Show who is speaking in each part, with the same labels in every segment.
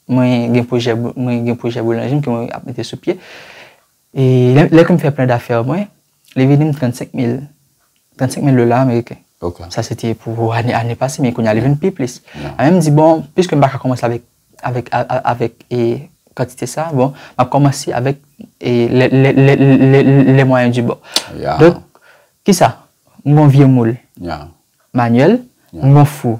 Speaker 1: Mwen gen pwojè, mwen gen pwojè boulanjri m ke mwen ap mete sou pye. E lè ke m fè plan dafè mwen, li vini m 35 mil, 35 mil dola ameriken. Ok. Sa se te
Speaker 2: pou
Speaker 1: ane, ane pase, men kounye a li vin pi plis. Mwen menm m di bon, piske m pa ka kòmanse avèk, avèk, avèk e kantite sa, bon, m ap kòmanse avèk e lè, lè, lè, lè, lè mwayen di bò. Ya. Donk, kisa? M gen yon vye moul. Ya. Manyèl. Ya. M gen yon fou.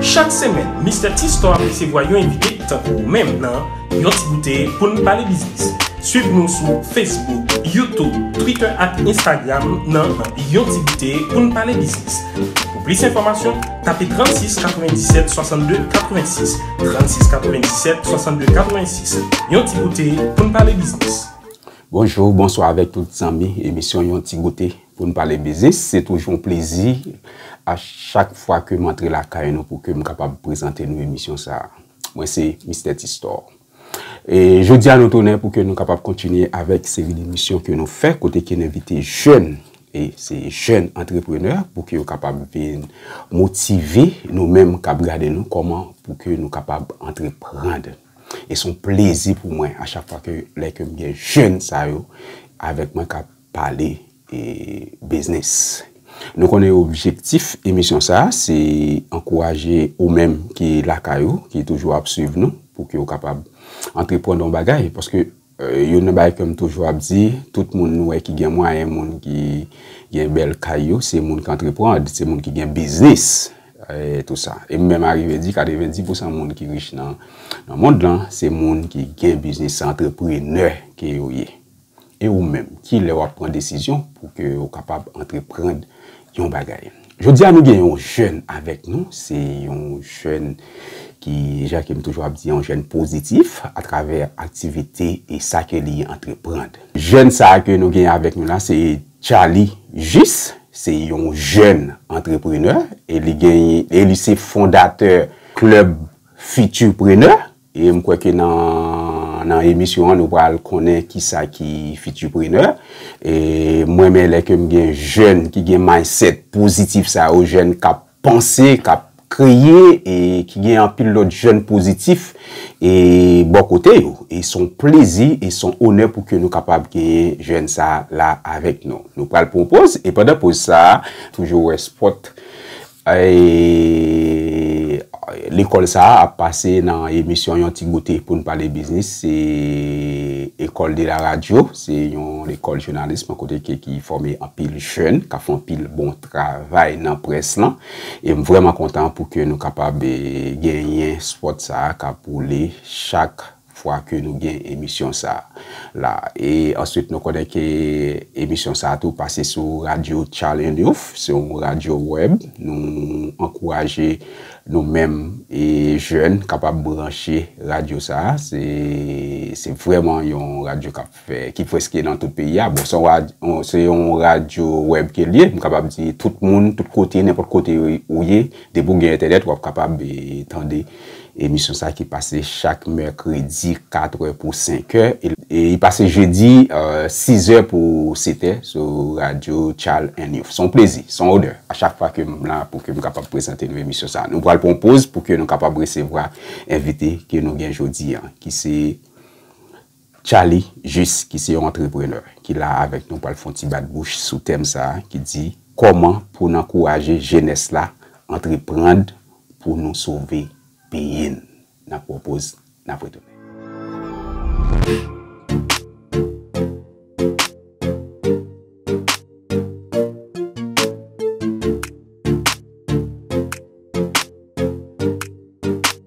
Speaker 3: Chak semèn, Mistè T-Store ap resevwa yon envite tankou ou menm nan Yon ti goute pou n pale biznis. Swiv nou sou Facebook, YouTube, Twitter ak Instagram nan Yon ti goute pou n pale biznis. Pou plis enfòmasyon, tape 36 97 62 86, 36 97 62 86. Yon ti goute pou n pale biznis. Bonjou,
Speaker 2: bonswa avèk tout zanmi emisyon Yon ti goute. Pou n pale biznis, se toujou yon plezi a chak fwa ke m antre lakay nou pou ke m kapab prezante nou emisyon sa a. Mwen se Mistè Tistò. E jodi a nou tounen pou ke nou kapab kontinye avèk seri demisyon ke nou fè kote ke n envite jèn, e se jèn antreprenè pou ke yo kapab vin motive nou menm k ap gade nou kòman pou ke nou kapab antreprand. E s on plezi pou mwen a chak fwa ke lè ke m gen jèn sa yo avèk mwen k ap. pale biznis. Nou konnen objektif emisyon sa a se ankouraje ou menm ki lakay ou, ki toujou ap swiv nou pou ke ou kapab antreprann yon bagay. Paske youn nan bagay ke m toujou ap di, tout moun nou wè ki gen mwayen, moun ki gen bèl kay yo, se moun ki antreprann, se moun ki gen biznis. E m menm arive di 90 pousan moun ki rich nan mond lan, se moun ki gen biznis, se antreprenè ke yo ye. E ou menm, ki lè wap pran desizyon pou ke ou kapab antreprand yon bagay? Jodi a nou gen yon jèn avèk nou, se yon jèn ki, jan ke m toujou ap di, yon jèn pozitif a travè aktivite e sa ke li antreprand. Jèn sa a ke nou gen avèk nou la se Charly Jus, se yon jèn antreprenè e li gen, e li se fondatè klub Futurpreneur. E m kwè ke nan nan emisyon an nou pral konnen kisa ki Futurpreneur. E m renmen lè ke m gen jèn ki gen mindset pozitif sa yo, jèn k ap panse, k ap kreye e ki gen anpil lòt jèn pozitif e bò kote yo. E s on plezi e s on onè pou ke nou kapab genyen jèn sa la avèk nou. Nou pral pran yon poz e pandan poz sa a toujou wè spot Lekòl sa a ap pase nan emisyon Yon Ti Goute pou n pale biznis. Se Ecole de la radio, se yon lekòl jounalism kote ke ki fòme anpil jèn k ap fè anpil bon travay nan près lan. E m vrèman kontan pou ke nou kapab genyen spot sa a k ap woule chak fwa ke nou gen emisyon sa la e answit nou konnen ke emisyon sa tou pase sou radyo Tchalenouf se yon radyo web nou ankouraje nou menm e jèn kapab branche radyo sa se vrèman yon radyo kap ki preske nan tout peyi a, bon se yon radyo web ke liye, m kapab di tout moun, tout kote, nenpot kote ou ye, depi ou gen entènèt wap kapab tande emisyon sa ki pase chak mèkredi 4 è pou 5 è, e li pase jedi 6 è pou 7 è sou radyo Chal 1 News. Son plezi, son onè a chak fwa ke m la pou ke m kapab prezante nou emisyon sa. Nou pral pran yon poz pou ke nou kapab resevwa envite ke nou gen jodi an ki se. Tchaly Jis ki se yon antreprenè ki la avèk nou pral fè yon ti bat bouch sou tèm sa a ki di Kòman pou n ankouraje jenès la antreprand pou nou sove peyi n? N ap pran yon poz, n ap retounen.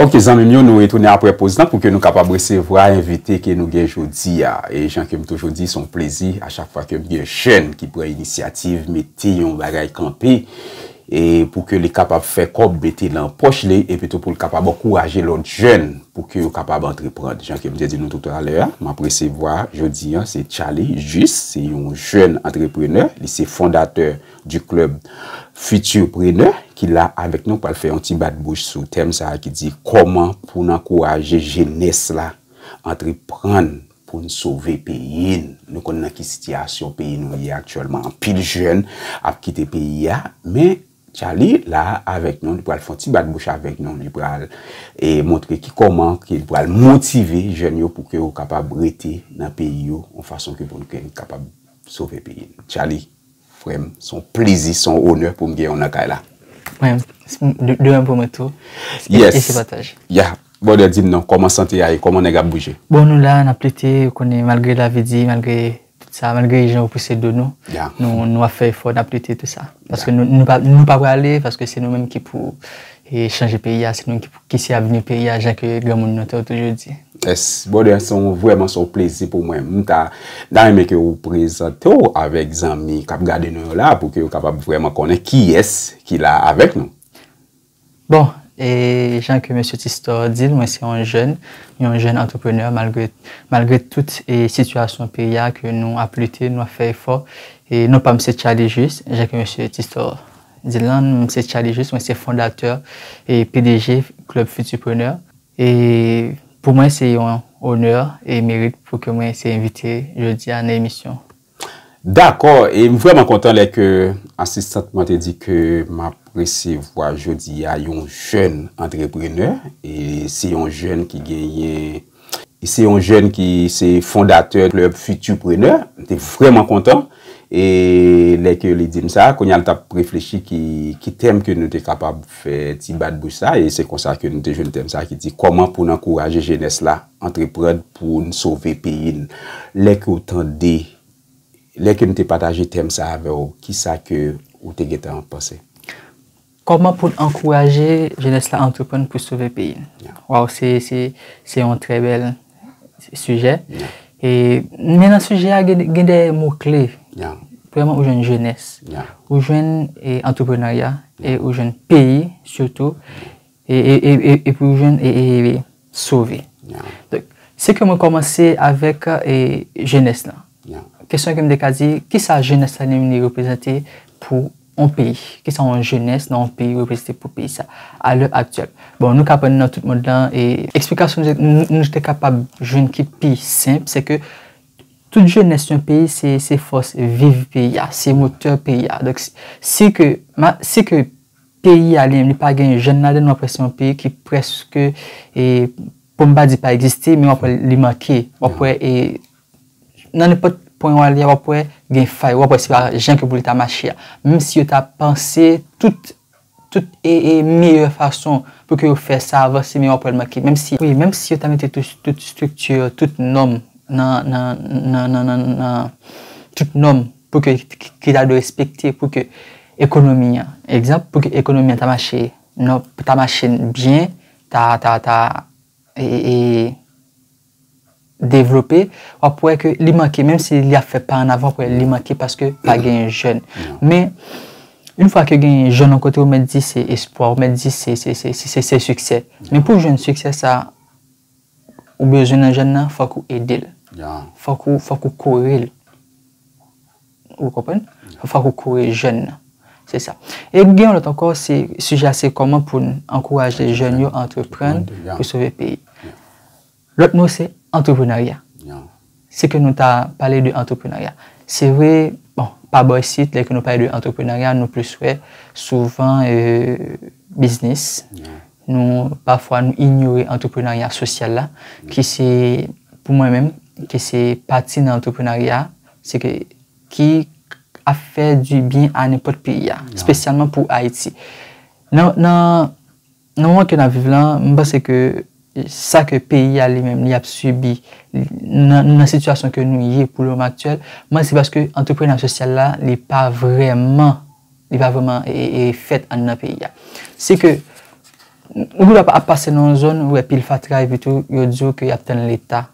Speaker 2: Ok zanmim yo nou retounen apre poz lan pou ke nou kapab resevwa envite ke nou gen jodi a. E jan kem toujou di son plezi a chak fwa kem gen jèn ki pran inisyativ mete yon bagay kanpe. e pou ke li kapab fè kòb mete nan pòch li, epi tou pou l kapab ankouraje lòt jèn pou ke yo kapab antreprand. Jan ke m te di nou toutalè a, m ap resevwa jodi an se Charly Juste, se yon jèn antreprenè, li se fondatè du club Futurpreneur ki la avèk nou pral fè yon ti bat bouch sou tèm sa a ki di kòman pou n ankouraje jenès la antreprann pou n sove peyi n. Nou konn nan ki sitiyasyon peyi nou ye aktyèlman. Anpil jèn ap kite peyi a. Men, Tchaly la avèk nou, li pral fè yon ti bat bouch avèk nou. Li pral montre ki kòman ke li pral motive jèn yo pou ke yo kapab rete nan peyi yo yon fason ke pou ke n kapab sove peyi n. Tchaly. Frè m, s on plezi, s on onè pou m gen w nan kay la. Frè m,
Speaker 1: de mèm pou mwen tou. Yes. E se pataj.
Speaker 2: Ya.
Speaker 1: Brother, di
Speaker 2: m non, kòman sante a ye? Kòman nèg ap bouje? Bon, nou la, n ap lite,
Speaker 1: ou konnen, malgre lavi di, malgre tout sa, malgre jan yo pouse do nou, nou ap fè
Speaker 2: efò, n
Speaker 1: ap lite, tout sa. Paske nou pa prale, paske se nou menm ki pou chanje peyi a, se nou menm ki pou. Ki se avni peyi a jan ke granmoun nou te toujou di? Yes brother se
Speaker 2: yon vreman se yon plezi pou mwen m ta ta renmen ke ou prezante w avek zanmi kap gade nou yo la pou ke yo kapab vreman konnen kiyes ki la avek nou. Bon
Speaker 1: e jan ke mesye Thistor di l mwen se yon jèn, yon jèn entrepreneur malgre malgre tout e sitiyasyon peyi a ke nou ap lite nou ap fè efò e non pa m se Charly Juste jan ke mesye Thistor Dylan, m se Charlie Juste, mwen se fondatè e pdg Club Futurpreneur e pou mwen se yon onè e merit pou ke mwen se envite jodi a nan emisyon. Dakò,
Speaker 2: e m vrèman kontan lè ke asistant mwen te di ke m ap resevwa jodi a yon jèn antreprenè e se yon jèn ki genyen. Li se yon jèn ki se fondatè klèb Futurpreneur. M te vrèman kontan e lè ke li di m sa. Kounye a l t ap reflechi ki tèm ke nou te kapab fè ti bat bouch sa e se konsa ke nou te jwenn tèm sa ki di kòman pou n ankouraje jenès la antreprann pou n sove peyi n. Lè ke w tande, lè ke m te pataje tèm sa avè w, kisa ke w te gentan panse? Kòman
Speaker 1: poun ankouraje jenès la antreprann pou sove peyi n. Waw se se yon trè bèl sijè e men nan sijè a gen de mo kle premyèman
Speaker 2: ou jwenn
Speaker 1: jenès ou jwenn antreprenarya e ou jwenn peyi sitou e epi ou jwenn sove.
Speaker 2: Se ke
Speaker 1: mwen komanse avèk jenès lan. Kesyon ke m te
Speaker 2: ka di,
Speaker 1: kisa jenès la vini reprezante pou yon peyi? Kisa yon jenès nan yon peyi reprezante pou peyi sa a lè aktyèl? Bon, nou ka pran nan tout mond lan e eksplikasyon nou te kapab jwenn ki pi senp, se ke tout jenès yon peyi se fòs viv peyi a, se motè peyi a. Donk, si ke Peyi a li pa gen jèn ladann, wap wè se yon peyi ki prèske pou m pa di pa egziste men wap wè li manke, wap wè nan nenpòt pwen wale a wap wè gen fay, wap wè se pa jan ke pou li ta mache a. Menm si yo ta panse tout meyè fason pou ke yo fè sa avanse men wap wè li manke. Wi menm si yo ta mete tout estrikti, tout nòm nan tout nòm pou ke, ki ta dwe respekte pou ke ekonomi an, egzanp, pou ke ekonomi an ta mache, nan, ta mache byen, ta, ta, ta, e, e, devlope, w ap wè ke li manke, menm si li ap fè pa an avan, w ap wè li manke paske pa genyen jèn. Men, yon fwa ke genyen jèn yon kote, ou mèt di se espwa, ou mèt di se, se, se, se, se siksè. Men pou jwenn siksè sa a. Ou bezwen nan jèn nan fòk ou edel. Fòk ou fòk ou korel. Ou konprann? Fòk ou kore jèn nan. Se sa. E gen yon lòt ankò se sijè a se kòman pou n ankouraje jèn yo antreprann pou sove peyi. Lòt mo se antreprenarya. Se ke nou ta pale de antreprenarya. Se vre, bon, pa bò isit, lè ke nou pale de antreprenarya, nou plis wè souvan biznis. Nou, pafwa nou inyore antreprenarya sosyal la, ki se, pou mwen menm, ki se pati nan antreprenarya, se ke, ki ap fè di byen a nenpòt peyi a, spesyalman pou Ayiti. Nan, nan. Nan moman ke n ap viv lan, m panse ke sa ke peyi a li menm li ap sibi, nou nan sitiyasyon ke nou ye pou le moman aktyèl, m panse se paske antreprenarya sosyal la li pa vrèman, li pa vrèman fèt anndan peyi a. Se ke nou ap pase nan yon zòn ou wè pil fatra epitou yo di w ke y ap tann leta.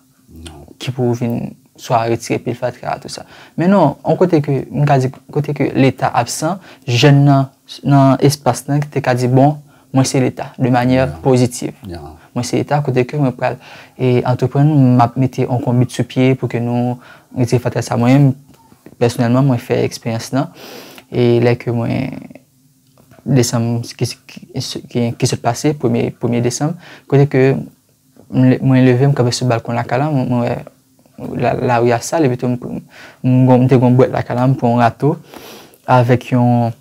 Speaker 1: Ki pou vin swa retire pil fatra a tou sa. Men non, on kote ke, m ka di, kote ke leta absan, jèn nan, nan espas lan ki te ka di bon, mwen se leta, de manyè pozitiv. Mwen se leta kote ke mwen pral e antreprann, m ap mete on konbit sou pye pou ke nou retire fatra sa. Mwen menm, pèsonèlman, mwen fè eksperyans lan. E lè ke mwen, desanm, ki sot pase, premye, premye desanm, kote ke Mwen leve, m kanpe sou balkon lakay la, mwen wè lari a sal, epitou m te gen yon bwèt lakay la, m pran yon rato avèk yon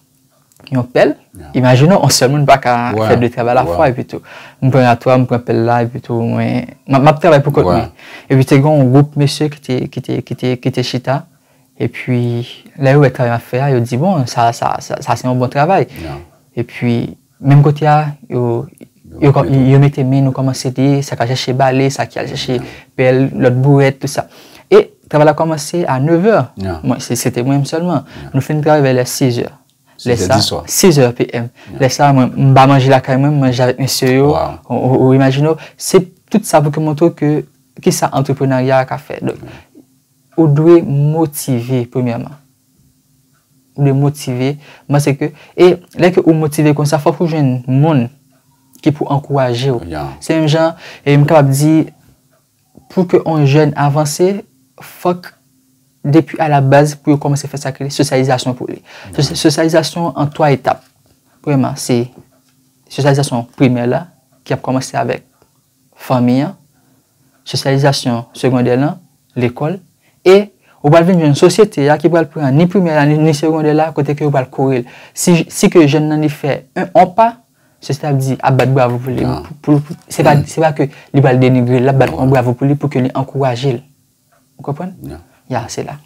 Speaker 1: pèl. Imajine w, yon sèl moun pa ka fè de travay alafwa epitou. M pran rato a, m pran pèl la epitou mwen, m ap travay pou kont mwen. Epi te gen yon gwoup mesye ki te chita, epi lè yo wè travay m ap fè a, yo di, bon, sa se yon bon travay. Epi. Menm kote a, yo mete min, nou kòmanse di, sa k al chèche bale, sa ki al chèche pèl, lòt bourèt, tout sa. E travay la kòmanse a nevè. Mwen, se te mwen menm sèlman. Nou fin travay vè lè sizè. Sizè di swa. Sizè PM. Lè sa, mwen m ba manje lakay mwen, m manje avèk mesye yo. Ou imajine ou. Se tout sa pou te montre ou ke ki sa antreprenarya a ka fè. Ou dwe motive premyèman. Ou dwe motive, mwen panse ke, e lè ke ou motive konsa fòk ou jwenn moun ki pou ankouraje ou. Se menm jan, e m kapab di, pou ke yon jèn avanse, fòk depi a la baz pou yo kòmanse fè sa ki rele sosyalizasyon pou li. Sosyalizasyon an 3 etap. Premyèman, se sosyalizasyon primè la ki ap kòmanse avèk. fanmi an, sosyalizasyon segondè lan, lekòl, e ou pral vin jwenn sosyete a ki pral pran ni primè la ni segondè la kote ke yo pral kore l. Si si ke jèn nan li fè en on pa, sosyete a ap di, ap bat bravo pou li, pou l, se pa se pa ke li pral denigre l, l ap bat on bravo pou li pou ke li ankouraje l. Ou konprann? Ya. Ya, se la.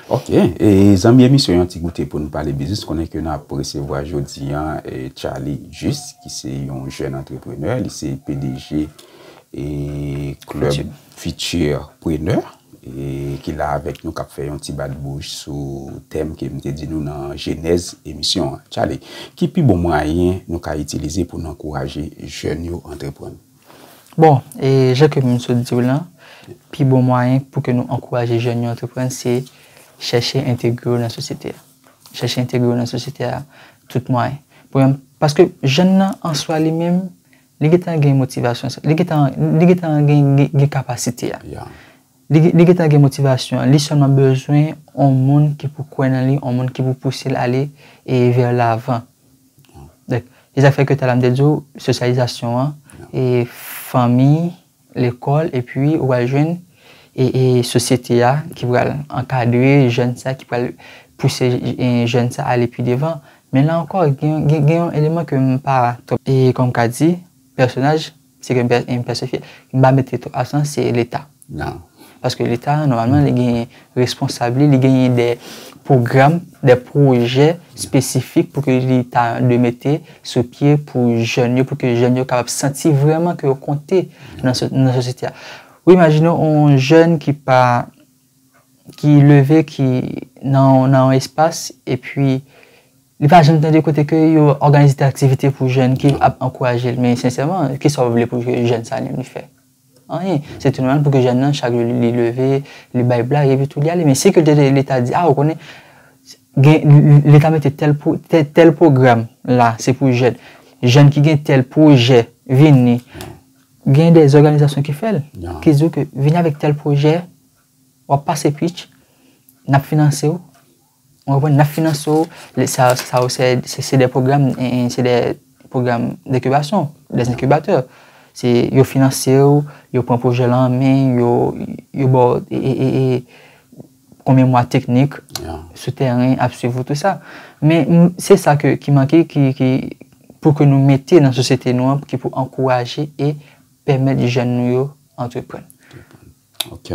Speaker 1: Ok. E
Speaker 2: zanmi emisyon yon ti goute pou nou pale biznis. Konnen ke nou ap resevwa jodi an Charly Juste ki se yon jèn antreprenè. Li se pdg e klèb Futur Preneur ki la avèk nou k ap fè yon ti bat bouch sou tèm ke m te di nou nan jenèz emisyon an. Charly, ki pi bon mwayen nou ka itilize pou nou ankouraje jèn yo antreprann? Bon,
Speaker 1: e jan ke m sot di w lan, pi bon mwayen pou ke nou ankouraje jèn yo antreprann se chèche entegre yo nan sosyete a. Chèche entegre yo nan sosyete a tout mwayen. Premyèman, paske jèn nan an swa li menm, li gentan gen motivasyon sa, li gentan gen kapasite a. Li gentan gen motivasyon an, li sèlman bezwen yon moun ki pou kwè nan li, yon moun ki pou pouse l ale vè lavan. Donk, se sa k fè ke talè a m te di w, sosyalizasyon an, fanmi, lekòl, epi ou pral jwenn sosyete a ki pral ankadre jèn sa, ki pral pouse jèn sa ale pi devan. Men la ankò, gen yon eleman ke m pa twòp, kòm m ka di, pèsonaj. Se ke m pèsifye. M pa mete twop aksan se leta. Nan. Paske leta nòmalman li gen responsab li, li genyen de pwogram, de pwojè espesifik pou ke li ta de mete sou pye pou jèn yo, pou ke jèn yo kapab santi vreman ke yo konte nan sosyete a. Ou imajine yon jèn ki pa. ki leve ki nan yon espas epi li pa janm tande kote ke yo òganize de aktivite pou jèn ki ap ankouraje l men sensèman ki sa w vle pou ke jèn sa li fè anyen se tou nòmal pou ke jèn nan chak jou li leve li bay blag epi tou li ale men si ke leta di a ou konnen gen leta mete tèl tèl pwogram la se pou jèn jèn ki gen tèl pwojè vini Gen de zòganizasyon ki fè l, ki di w ke vini avèk tèl pwojè, w ap pase pitch, n ap finanse w, ou konprann, n ap finanse w, sa yo se de pwogram, se de pwogram denkibasyon, de enkibatè. Se yo finanse w, yo pran pwojè lan an men, yo ba w e, e, e, e. konbyen mwa teknik sou tèren ap swiv ou tout sa. Men se sa ki manke pou ke nou mete nan sosyete nou an ki pou ankouraje e pèmèt jèn nou yo antreprann. Ok.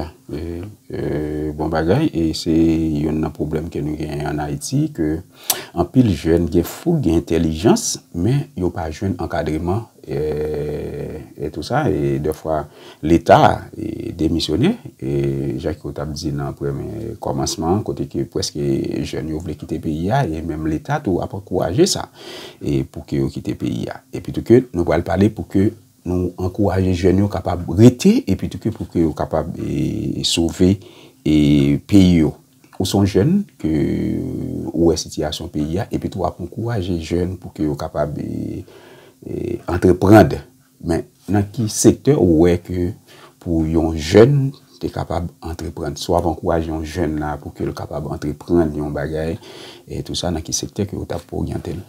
Speaker 2: Bon bagay. E se yon nan pwoblèm ke nou genyen an Ayiti ke Anpil jèn gen foug, gen entèlijans, men yo pa jwenn ankadreman e tou sa, e dè fwa leta demisyone, e jan ke w tap di nan kòmansman an, kote ke preske jèn yo vle kite peyi a, e menm leta tou ap ankouraje sa, e pou ke yo kite peyi a. E pi tou ke nou pral pale pou ke nou ankouraje jèn yo kapab rete, e pi tou ke pou ke yo kapab sove peyi yo. Ou son jèn ke ou wè sitiyasyon peyi a epitou wap ankouraje jèn pou ke yo kapab antreprand. Men nan ki sektè ou wè ke pou yon jèn te kapab antreprand? Si wap ankouraje yon jèn la pou ke l kapab antreprand yon bagay e tou sa nan ki sektè ke ou tap oryantel?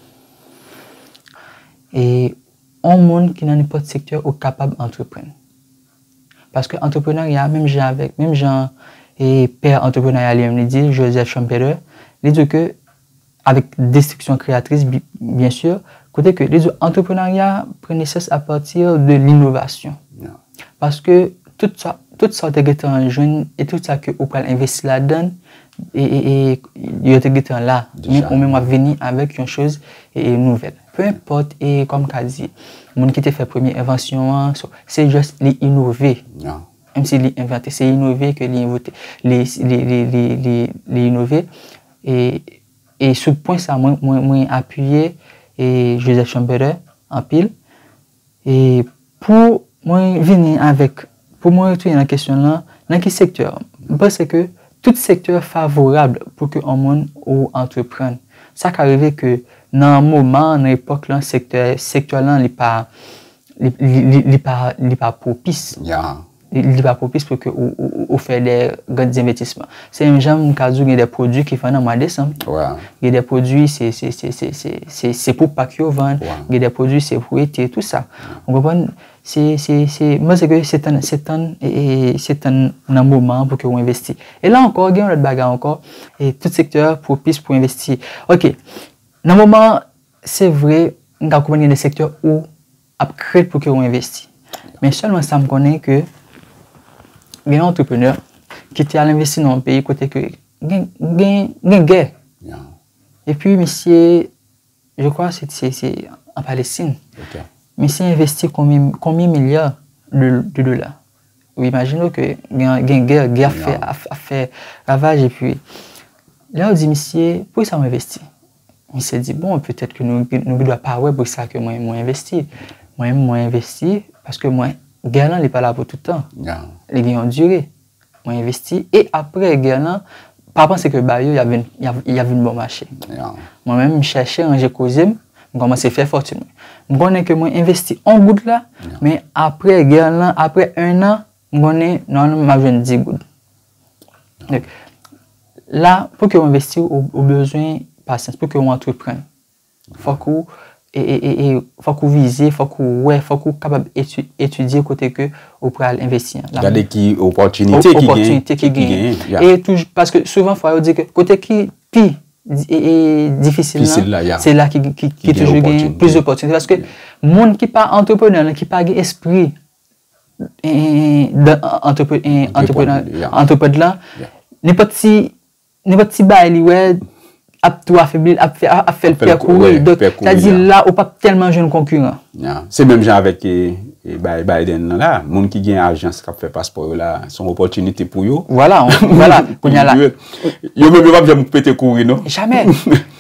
Speaker 1: E yon moun ki nan nenpòt sektè ou kapab antreprand. Paske antreprenarya, menm jan avèk, menm jan pè antreprenarya li menm li di l, Joseph Schumpeter, li di w ke, avèk destriksyon kreyatris byen sur, kote ke li di w antreprenarya pran nesans apati de linovasyon. Paske tout sa, tout sa w te gentan jwenn e tout sa ke ou pral envesti ladan, E yo te gentan la, men ou menm w ap vini avèk yon choz nouvèl. Pe enpòt, e kòm m ka di, moun ki te fè premye envansyon an, se jès li inove, menm si li envante, se inove ke li envote, li inove. E sou pwen sa mwen apiye Joseph Schumpeter anpil. E pou mwen vini avèk, pou mwen retounen nan kesyon lan, nan ki sektè? M panse ke tout sektè favorab pou ke on moun ou antreprann. Sa ka rive ke nan moman an, nan epòk lan, sektè, sektè lan li pa, li, li, li pa, li pa pwopis. Ya. Li
Speaker 2: pa pwopis
Speaker 1: pou ke ou fè de grands envestisman. Se menm jan m ka di w gen de pwodui ki vann an mwa desanm. Gen de pwodui se pou Pak yo vann, gen de pwodui se pou ete, tout sa. Ou konprann? Se, se, se, m panse ke se tann, se tann, se tann nan moman an pou ke ou envesti. E la ankò, gen yon lòt bagay ankò, e tout sektè pwopis pou envesti. Ok, nan moman an, se vre, m ka konprann gen de sektè ou. ap krèt pou ke ou envesti men sèlman sa m konnen ke gen yon antreprenè ki te al envesti nan yon peyi kote ke gen gè epi misye je kwa se se an Palestin misye envesti konbyen milya de dola ou imajine ou ke gen gè gè ap fè ravaj epi lè ou di misye poukisa ou envesti Misye di, bon, petèt ke nou gen dwa pa wè pou sa ke mwen envesti. Mwen menm, mwen envesti, paske mwen, gè lan li pa la pou tout tan. Li gen yon dire. Mwen envesti, e apre gè lan, pa panse ke ba yo y ap vin bon mache. Mwen menm, m chèche ranje koze m, m kòmanse fè fòtin mwen. M konnen ke mwen envesti yon goud la, men apre gè lan, apre ennan, M konnen nan l m ap jwenn 10 goud. Donk, la pou ke ou envesti ou bezwen pasyans, pou ke ou antreprann. Fòk ou fòk ou vize, fòk ou wè, fòk ou kapab etidye kote ke ou pral envesti an. Gade ki
Speaker 2: opòtinite ki gen. Opòtinite ki gen. E touj, paske
Speaker 1: souvan fwa yo di ke kote ki pi difisil la, se la ki toujou gen plis opòtinite. Paske moun ki pa antreprenè, ki pa gen espri antreprenè lan, nenpòt ti bagay li wè ap tou afebli l, ap fè l pè kouri. Sa di la ou pap tèlman jwenn konkiran. Se menm jan
Speaker 2: avèk Biden nan la, moun ki gen ajans kap fè paspò yo la, son opòtinite pou yo. Vwala,
Speaker 1: vwala. Yo menm yo pap
Speaker 2: jèm pète kouri non. Jamè.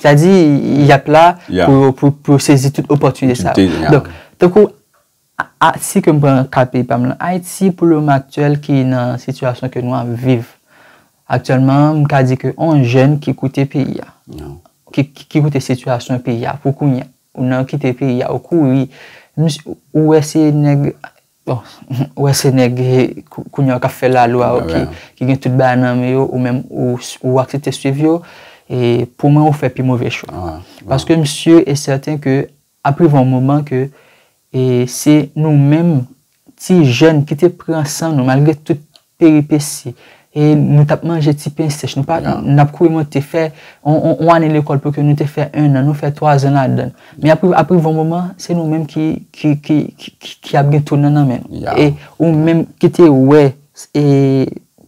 Speaker 2: Sa
Speaker 1: di yap la pou sezi tout opòtinite sa. Tankou A si ke m pran ka peyi pa m lan, Ayiti pou le moman aktyèl ki nan sitiyasyon ke nou ap viv aktyèlman, m ka di ke on jèn ki koute peyi a, ki koute sitiyasyon peyi a pou kounye a, ou nan kite peyi a, ou kouri, ou wè se nèg, bon, ou wè se nèg kounye a k ap fè lalwa yo, ki gen tout bagay nan men yo, ou menm ou aksepte swiv yo, e pou mwen ou fè pi move chwa. Paske m si e sèten ke Ap rive yon moman ke e se nou menm ti jèn ki te pran san nou malgre tout peripesi e nou tap manje ti pen sèch nou pa nap kouri monte fè yon ane lekòl pou ke nou te fè 1 an nou fè 3 zan ladann men ap rive ap rive yon moman se nou menm ki ki ki ki ap gen tounen nan men nou e ou menm ki te wè e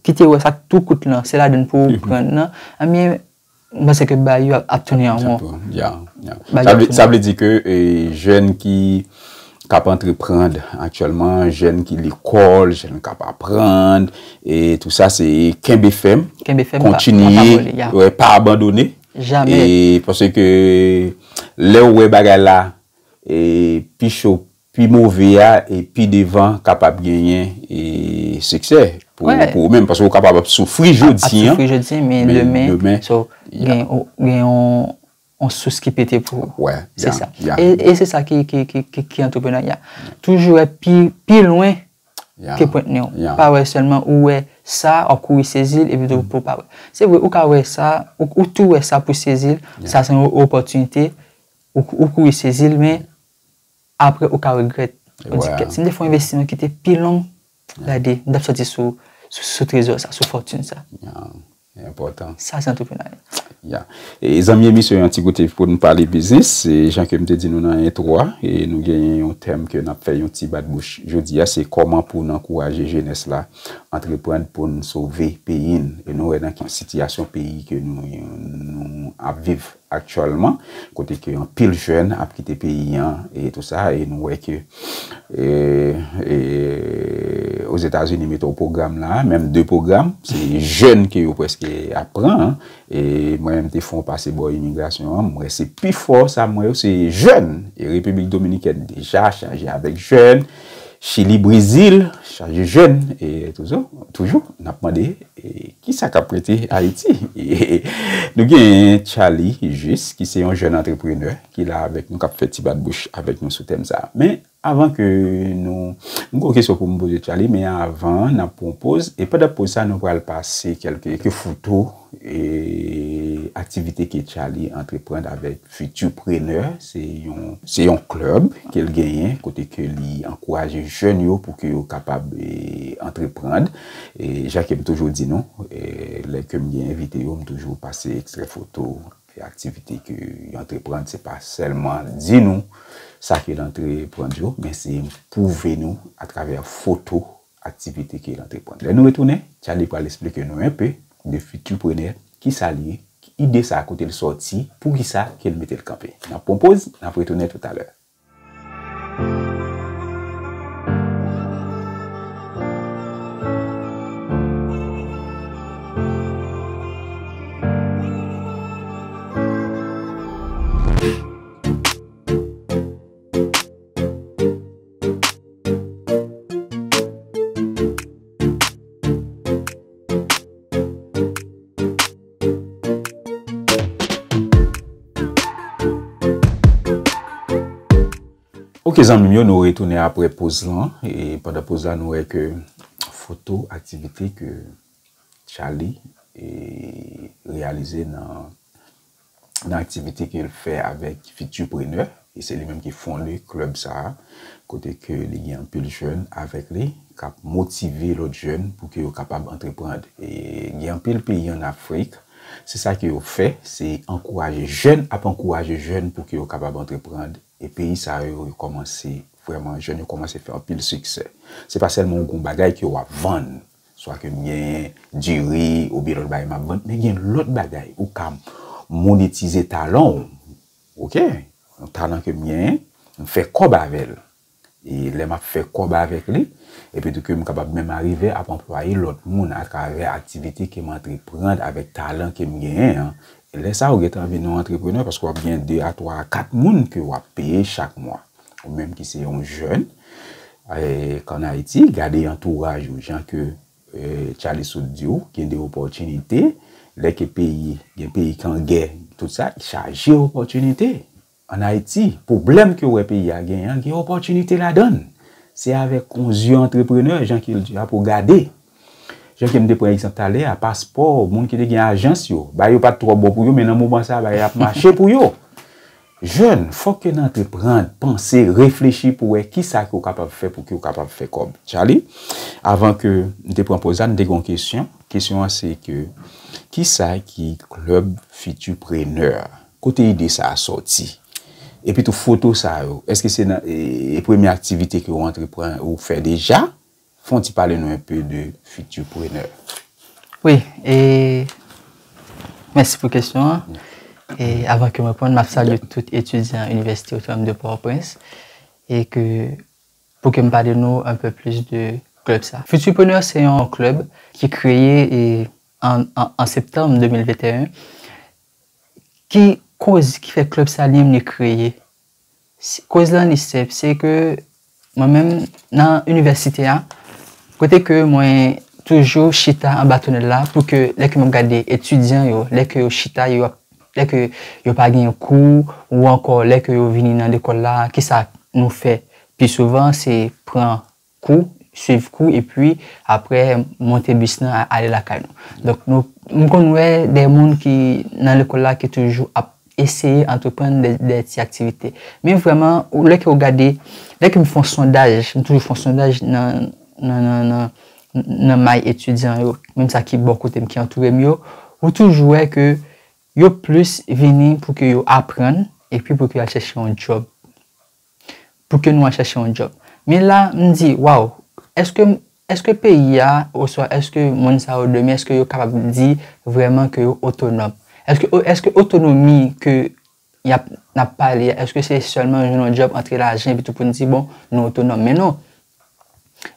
Speaker 1: ki te wè sak tou kout lan se ladann pouw pran nan ebyen Mwen se ke bay yo ap tounen an won. Ya, ya.
Speaker 2: Sa vle
Speaker 1: di ke jèn
Speaker 2: ki kap antreprand aktyèlman, jèn ki lekòl, jèn kap aprand, e tou sa se kenbe fèm, kontinye, pa abandone, e
Speaker 1: pwosè ke
Speaker 2: lè ou wè bagay la, e pi cho Pi move a e pi devan kapab genyen e siksè pou ou menm. Paske ou kapab ap soufri jodi an. Ap soufri jodi an men
Speaker 1: demen. So gen yon sous ki pete pou ou. Wè. Se sa. E se sa ki antreprenan ya. Toujou wè pi lwen ke pwent ne ou. Pa wè selman ou wè sa ou kouri sezil epi tou pou ou pa wè. Se vwe ou ka wè sa ou tou wè sa pou sezil. Sa se yon opotinite ou kouri sezil men. Apre ou ka regrèt. Ou di kèt si m te fè yon envestiman ki te pi long, gade, m tap sòti sou sou trezò sa, sou fòtin sa. Li enpòtan.
Speaker 2: Sa se antreprenarya.
Speaker 1: Ya. E
Speaker 2: zanmi emisyon yon ti goute pou nou pale biznis. E jan ke m te di nou nan entwo a, e nou genyen yon tèm ke nap fè yon ti bat bouch jodi a, se kòman pou n ankouraje jenès la antreprand pou n sove peyi n. E nou wè nan ki sitiyasyon peyi ke nou ap viv aktyèlman kote ke anpil jèn ap kite peyi an e tou sa e nou wè ke Ozetazini mete yon pwogram la a, menm 2 pwogram, se jèn ke yo prèske ap pran an e mwen menm te fè yon pase bò imigrasyon an, mwen wè se pi fò sa mwen yo se jèn e Repiblik Dominikèn deja chanje avèk jèn. Chili Brezil chaje jèn e toujou toujou n ap mande ki sa k ap rete Ayiti. Nou gen Tchaly Juste ki se yon jèn antreprenè ki la avèk nou k ap fè ti bat bouch avèk nou sou tèm sa a. Men avan ke nou, m gen yon kesyon pou m poze Tchaly men avan n ap pran yon poz e pandan poz sa a nou pral pase kèlke foto. Aktivite ke Tchaly antreprann avèk Futur Preneur, se yon se yon club ke l genyen kote ke li ankouraje jèn yo pou ke yo kapab antreprann. Jan ke m toujou di nou, lè ke m gen envite yo, m toujou pase ekstrè foto ke aktivite ke yo antreprann. Se pa sèlman di nou sa ke l antreprann yo, men se pwouve nou atravè foto aktivite ke l antreprann. Lè nou retounen, Charlie pral esplike nou enpe de Futurpreneur, kisa l ye, ki ide sa a kote l sòti, poukisa ke l mete l kanpe. N ap pran poz, n ap retounen toutalè. Ok zanmim yo nou retounen apre poz lan e pandan poz la nou wè ke foto aktivite ke Charly e reyalize nan nan aktivite ke l fè avèk Futurpreneur, e se li menm ki fonde club sa a, kote ke li gen anpil jèn avèk li, k ap motive lòt jèn pou ke yo kapab antreprand. E gen anpil peyi an Afrik, se sa ke yo fè, se ankouraje jèn ap ankouraje jèn pou ke yo kapab antreprand, e peyi sa yo, yo kòmanse vrèman, jèn yo kòmanse fè anpil siksè. Se pa sèlman ou gen yon bagay ke w ap vann, Swa ke m genyen diri oubyen lòt bagay m ap vann. Men gen lòt bagay ou ka monetize talan w. Ok, yon talan ke m genyen, m fè kòb avè l. E lè m ap fè kòb avèk li, epitou ke m kapab menm arive ap anplwaye lòt moun atravè aktivite ke m antreprann avèk talan ke m genyen an, Lè sa ou gentan vin yon antreprenè paske wap gen 2 a 3 a 4 moun ke wap peye chak mwa. Ou menm ki se yon jèn kan Ayiti gade antouraj ou jan ke Charly sot di ou gen de opòtinite lè ke peyi gen peyi kan gè tout sa chaje opòtinite. An Ayiti, pwoblèm ke w wè peyi a genyen an, gen opòtinite ladan l. Se avèk yon zye antreprenè, jan ke l di a, pou w gade. Jan ke m te pran egzanp talè a, paspò moun ki te gen ajans yo, bagay yo pa t twò bon pou yo, men nan moman sa a, bagay ap mache pou yo. Jèn, fòk ke n antrepran, panse, reflechi pou wè ki sa ke w kapab fè pou ke w kapab fè kòb. Tchaly, avan ke m te pran pòz la, m te gen yon kesyon. Kesyon an se ke, ki sa ki klèb fitiprenè? Kote ide sa a sòti? Epi tou foto sa yo, èske se nan premye aktivite ke ou antrepran, ou fè deja? Fè yon ti pale nou un peu de Futurpreneur. Wi,
Speaker 1: e mèsi pou kesyon an. E avan ke m reponn, m ap salye tout etidyan Inivèsite Otonom de Pòtoprens e ke pou ke m pale nou un peu plis de klèb sa. Futurpreneur se yon klèb ki kreye an septanm 2021 Ki koz ki fè club Salyem ne kreye? Koz lan li senp, se ke mwen menm nan inivèsite a, kote ke mwen toujou chita anba tonèl la pou ke lè ke map gade etidyan yo, lè ke yo chita, lè ke yo pa gen kou, ou ankò lè ke yo vini nan lekòl la, kisa nou fè? Pi souvan se pran kou, swiv kou epi aprè monte bis nan ale lakay nou. Donk nou, m konn wè de moun ki nan lekòl la ki toujou ap eseye antreprann de ti aktivite. Men vrèman, lè ke ou gade, lè ke m fè yon sondaj, m toujou fè yon sondaj nan may etidyan yo, menm sa ki bò kote m, ki antoure m yo, ou toujou wè ke yo plis vini pou ke yo aprann epi pou ke yo al chèche yon djòb. pou ke nou al chache yon djòb. Men la, m di, waw, eske, eske peyi a, oswa eske moun sa yo demen, eske yo kapab di vrèman ke yo otonòm? Eske, eske otonomi ke y ap, n ap pale a, eske se sèlman jwenn yon djòb, antre lajan epitou pou n di bon, nou otonòm? Men non.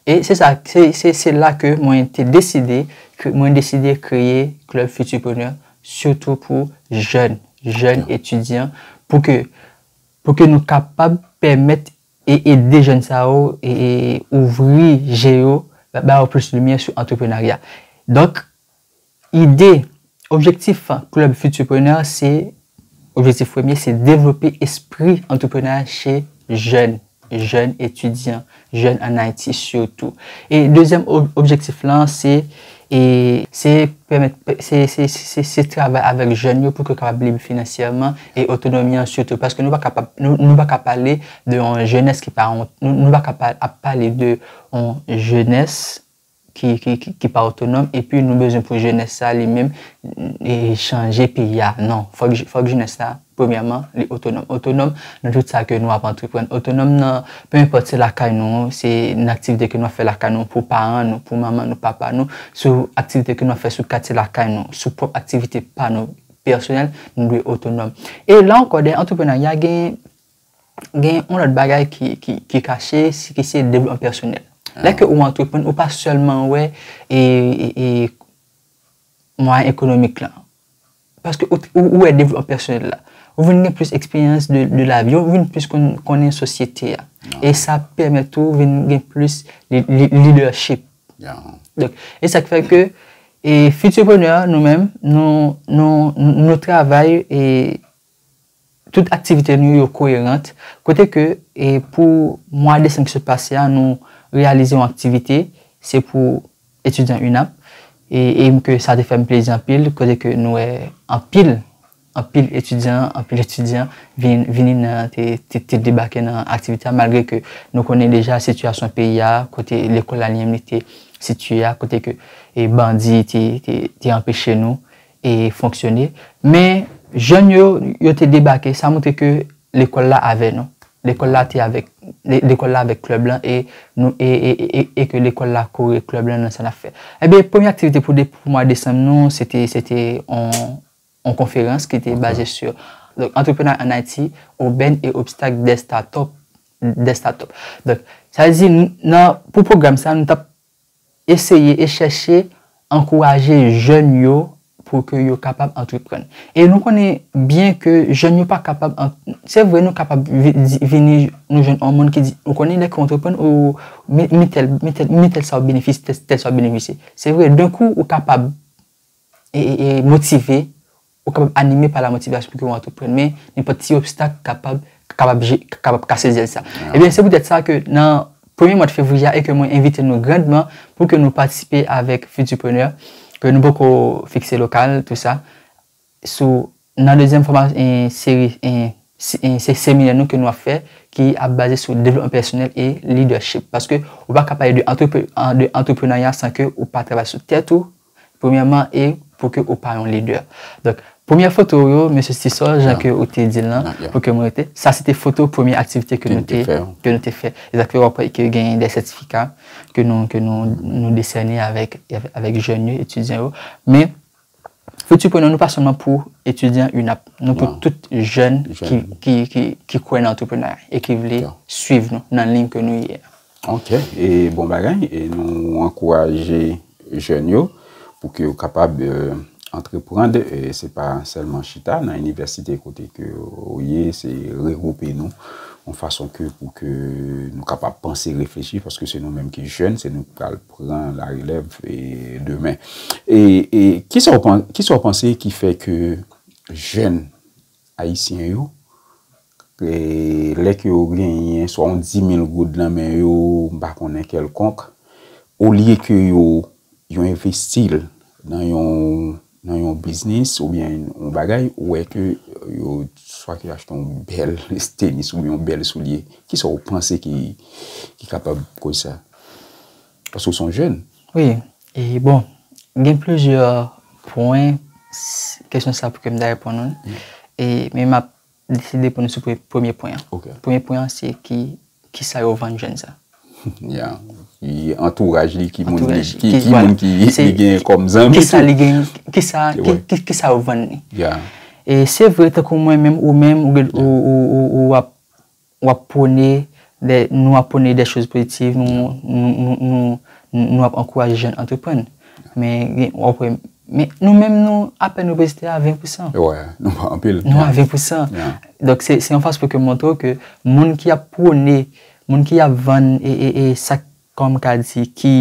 Speaker 1: E se sa, se, se, se la ke mwen te deside, ke mwen deside kreye Club Futurpreneur, sitou pou jèn, jèn etidyan, pou ke Pou ke nou kapab pèmèt e ede jèn sa yo e ouvri je yo, ba yo plis limyè sou antreprenarya. Donk, ide, objektif Club Futurpreneur se, objektif premye se devlope espri antreprenarya che jèn, jèn etidyan. jèn an Ayiti sitou. E dezyèm objektif lan se se pèmèt se travay avèk jèn yo pou ke yo kapab lib finansyèman e otonomi an sitou. Paske nou pa ka pap nou pa ka pale de yon jenès ki pa nou pa ka ap pale de yon jenès. ki pa otonòm epi nou bezwen pou jenès sa li menm chanje peyi a non fòk jenès la premyèman li otonòm otonòm nan tout sa ke nou ap antreprann otonòm nan pe enpòt se lakay nou se nan aktivite ke nou ap fè lakay nou pou paran nou pou manman nou papa nou sou aktivite ke nou ap fè sou katye lakay nou sou pwòp aktivite pa nou pèsonèl nou dwe otonòm e la ankò dèyè antreprenarya gen gen yon lòt bagay ki kache, si ki se devlòpman pèsonèl. Lè ke ou antreprann, ou pa sèlman wè mwayen ekonomik lan. Paske ou wè devlòpman pèsonèl la. Ou vin gen plis eksperyans de la vi, ou vin plis konnen sosyete a. E sa pèmèt ou vin gen plis leadership. E sa k fè ke Futurpreneur nou menm, nou travay e... Tout aktivite nou yo koyerant, kote ke pou mwa desanm ki sot pase a nou reyalize yon aktivite, se pou etidyan UNAP, e m ke sa te fè m plezi anpil, kote ke nou wè anpil, anpil etidyan, anpil etidyan vini nan, te debake nan aktivite a, malgre ke nou konnen deja sitiyasyon peyi a, kote lekòl Alyenm li te sitiye a, kote ke bandi te anpeche nou. e fonksyone men jèn yo yo te debake sa moutre ke lekòl la avè nou lekòl la te avèk lekòl la avèk klèb lan e nou e e e e ke lekòl la kore klèb lan nan sa nap fè ebyen premye aktivite pou pou mwa desanm nou se te se te on on konferans ki te baze su donk antreprenarya an ayiti obèn e obstak dè statòp dè statòp donk sa vle di nan pou pwogram sa nou tap eseye e chèche ankouraje jèn yo pou ke yo kapab antreprann. E nou konnen byen ke jèn yo pa kapab, se vre nou kapab vini nou jwenn yon moun ki di, ou konnen lè ke w antreprann ou mi tèl, mi tèl, mi tèl sa w benefisye, tèl sa w benefisye. Se vre, denkou ou kapab e motive. Ou kapab anime pa lamotivasyon pou ke ou antreprann, men nenpòt ti obstak kapab kapab kase zèl sa. Ebyen, se poutèt sa ke nan premye mwad fevriye a e ke mwen envite nou grandman pou ke nou patisipe avèk Futurpreneur, ke nou poko fikse lokal, tou sa, sou nan dezyèm fòma seri se seminè nou ke nou ap fè ki ap baze sou devlopman pèsonèl e lidèchip. Paske ou pa ka pale de antreprenarya san ke ou pa travay sou tèt ou, Premyèman e pou ke ou pa yon lidè. Donk, premyè foto ou yo, Mesye Tisol, jan ke ou te di l lan, pou ke mwen rete, sa se te foto premye aktivite ke nou te fè. Ke nou te fè. E sa k fè wap wè ke genyen de sètifika ke nou, ke nou, nou desène avèk, avèk jèn yo, etidyan yo. Men, Futur Preneur nou pa sèlman pou etidyan UNAP. Nou pou tout jèn ki, ki, ki kwè nan antreprenarya e ki vle swiv nou nan lign ke nou ye a. Ok e
Speaker 2: bon bagay e nou ankouraje jèn yo pou ke yo kapab antreprand e se pa sèlman chita nan inivèsite kote ke ou ye se regroupe nou yon fason ke pou ke nou kapab panse reflechi paske se nou menm ki jèn se nou ki pral pran la relèv e demen e e kisa ou kisa ou panse ki fè ke jèn ayisyen yo Lè ke yo genyen swa yon 10.000 goud nan men yo, m pa konnen kèlkonk, olye ke yo yo envesti l nan yon nan yon biznis oubyen yon bagay, ou wè ke yo swa ke yo achte yon bèl tenis oubyen yon bèl soulye. Kisa ou panse ki ki kapab koz sa? Paske ou se yon jèn. Wi. E
Speaker 1: bon, gen plizyè pwen kesyon sa pou ke m ta reponn ou. E men m ap Deside pou nou sou premye pwen an. Premye pwen an se
Speaker 2: ki
Speaker 1: sa yo vann jèn sa. Ya.
Speaker 2: Antouraj li ki moun ki
Speaker 1: li gen kòm
Speaker 2: zanmi. Ki sa
Speaker 1: li gen, ki sa yo vann li. Ya. E
Speaker 2: se vre
Speaker 1: tankou mwen menm ou menm ou ap. W ap pwone, lè nou ap pwone dè choz pozitiv, nou ap ankouraje jèn antreprann. Men, w ap wè, men nou menm nou, apèn nou prezite a 20 pousan. Wè, nou pa anpil.
Speaker 2: Nou a 20 pousan.
Speaker 1: Donk, se yon fas pou ke montre w ke moun ki ap pwone, moun ki ap vann e sak, kòman m ka di,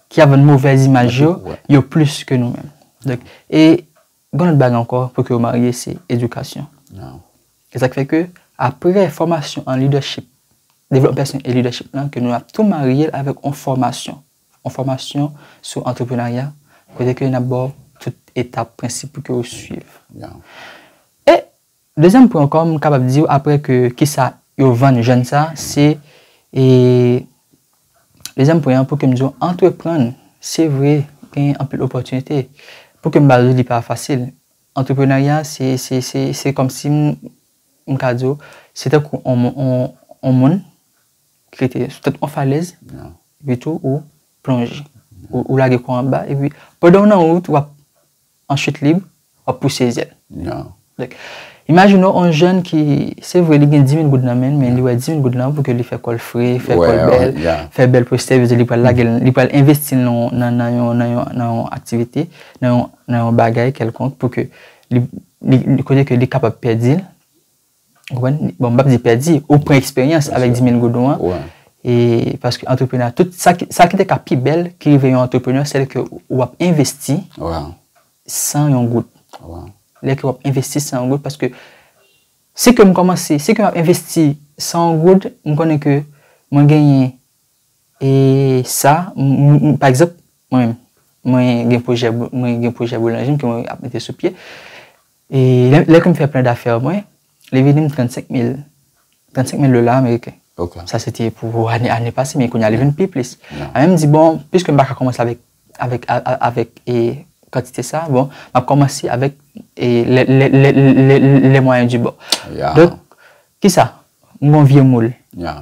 Speaker 1: ki ap vann movèz imaj yo, yo plis ke nou menm. Donk, e Yon lòt bagay ankò pou ke yo marye se edikasyon.
Speaker 2: E sa ki fè ke
Speaker 1: apre fòmasyon an lidèchip, devlòpman pèsonèl e lidèchip lan ke nou ap tou marye l avèk yon fòmasyon. Yon fòmasyon sou antreprenarya kote ke n ap ba w tout etap, prensip pou ke ou suiv. E. Dezyèm pwen ankò m kapab diw aprè ke kisa yo vann jèn sa se e dezyèm pwen an pou kem diw antreprann se vre gen anpil opòtinite pou kem ba diw li pa fasil antreprenarya se se se se kòmsi m m ka diw se tankou on on on moun ki rete sou tèt on falèz epi tou ou plonje ou lage kò anba epi pandan w nan wout wap an chit lib, w ap pouse zèl.
Speaker 2: Imajine
Speaker 1: w yon jèn ki, se vre li gen 10.000 goud nan men l, men li wè 10.000 goud lan pou ke li fè kò l fre, fè kò l bèl, fè bèl postè, vle di li pral lage l, li pral envesti l nan yon aktivite, nan yon bagay kèlkonk pou ke li konnen ke li kapab pèdi l. Ou konprann? Bon, m pa di pèdi, ou pran eksperyans avèk 10 mil goudon an. Wi. E, paske antreprenè a, tout sa ki, sa ki te ka pi bèl ki rive yon antreprenè, sèl ke ou ap envesti. Wi. San yon goud. Wi. Lè ke w ap envesti san yon goud, paske si ke m kòmanse, si ke m ap envesti san yon goud, m konnen ke mwen genyen e sa, m, pa egzanp, mwen menm, mwen gen pwojè, mwen gen pwojè boulanjri m ke mwen ap mete sou pye. E lè ke m fè plen dafè mwen, li vini m 35 mil, 35 mil dola ameriken. Ok. Sa se te
Speaker 2: pou ane,
Speaker 1: ane pase, men kounye a li vin pi plis. Mwen menm m di bon, piske m pa ka kòmanse avèk, avèk, avèk e kantite sa, bon, m ap kòmanse avèk e lè, lè, lè, lè, les moyens du bord. Ya. Donk, kisa? M gen yon vye moul. Ya.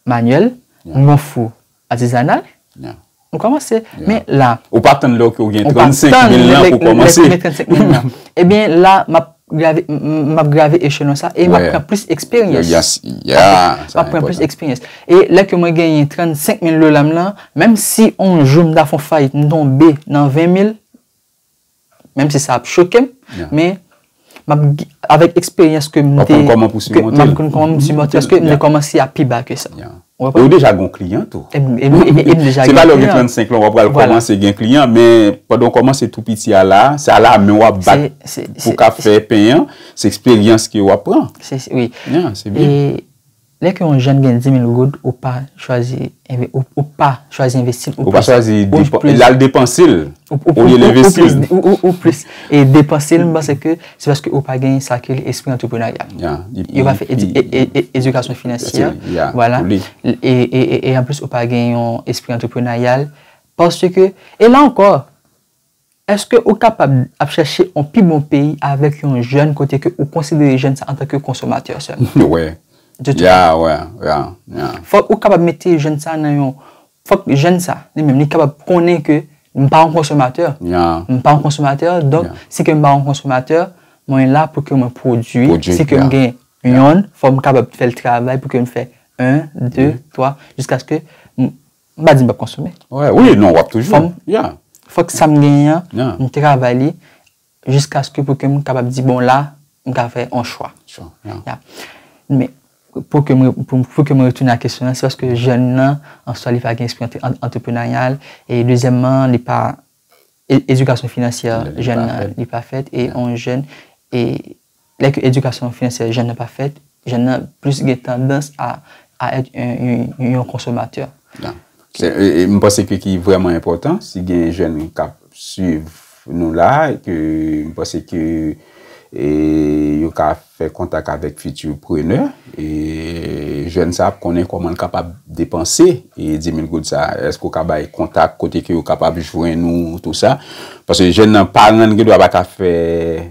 Speaker 1: Manyèl. Ya. M gen yon fou. Atizanal? Ya. Ou kòmanse. Ya. Men la. Ou pa tann lè ou gen 35 mil lan
Speaker 2: pou w kòmanse. Ou pa tann lè ou gen 35 mil lan.
Speaker 1: Ebyen la, m ap grave, m ap grave echelon sa e m ap pran plis eksperyans. Ya. Ya. M ap pran plis eksperyans. E lè ke mwen genyen 35 mil dola m lan, menm si on jou m ta fon fayit, m tonbe nan 20 mil. Menm si sa ap chokem, men, map, avèk eksperyans ke m te. Wap konn kòman pou simonte l.
Speaker 2: Map konn kòman pou simonte l. Paske m te kòmanse
Speaker 1: a pi ba ke sa. Ya. Ou konprann? E ou deja gen yon
Speaker 2: kliyan tou. E m deja gen yon kliyan. Se pa lè ou gen 35 lan wap pral kòmanse gen kliyan, men, pandan ou kòmanse tou piti a la, se a la men wap bat pou ka fè pen an, se eksperyans ke wap pran. Se, wi. Ya,
Speaker 1: se byen. E,
Speaker 2: Lè
Speaker 1: ke yon jèn gen 10.000 goud ou pa chwazi ou pa chwazi envesti l ou pa chwazi
Speaker 2: l al depanse l olye l envesti l ou plis
Speaker 1: depanse l m panse ke se paske ou pa gen sa ki rele espri antreprenaryal yo pa fè edikasyon finansye wala e anplis ou pa gen yon espri antreprenaryal paske e la ankò Eske ou kapab ap chache on pi bon peyi avek yon jèn kote ke ou konsidere jèn sa antan ke konsomatè selman? Yo wè. Yo
Speaker 2: tou pa
Speaker 1: wè. Fok ou kapab mete jèn sa nan yon, fok jèn sa li menm li kapab konnen ke m pa yon konsomatè. M pa yon konsomatè, donk si ke m pa yon konsomatè, mwen la pou ke mwen pwodui, si ke m gen yon, fok m kapab fè l travay pou ke m fè 1, 2, 3, jiskaske M pa di m pap konsome. Wè, wi, non, wap toujou.
Speaker 2: Fòm, ya. Fòk
Speaker 1: sa m genyen an, m travay li jiskaske pou ke m kapab di bon la, m ka fè yon chwa. Chwa, ya. Ya. Men, pou ke m, pou ke m retounen a kesyon an, se paske jèn nan, an swa li pa gen espri antreprenanyal, e dezyèmman, li pa, edikasyon finansyè jèn nan, li pa fèt, e yon jèn, e Lè ke edikasyon finansyè jèn nan pa fèt, jèn nan plis gen tandans a a èt yon konsomatè. E
Speaker 2: m panse ke ki vrèman enpòtan, si gen jèn k ap swiv nou la, ke m panse ke yo ka fè kontak avèk Futur Preneur, e jèn sa ap konnen kòman l kapab depanse 10,000 goud sa. Èske ou ka bay kontak kote ke yo kapab jwenn ou, tou sa? Paske jèn nan, paran l gen dwa pa ta fè.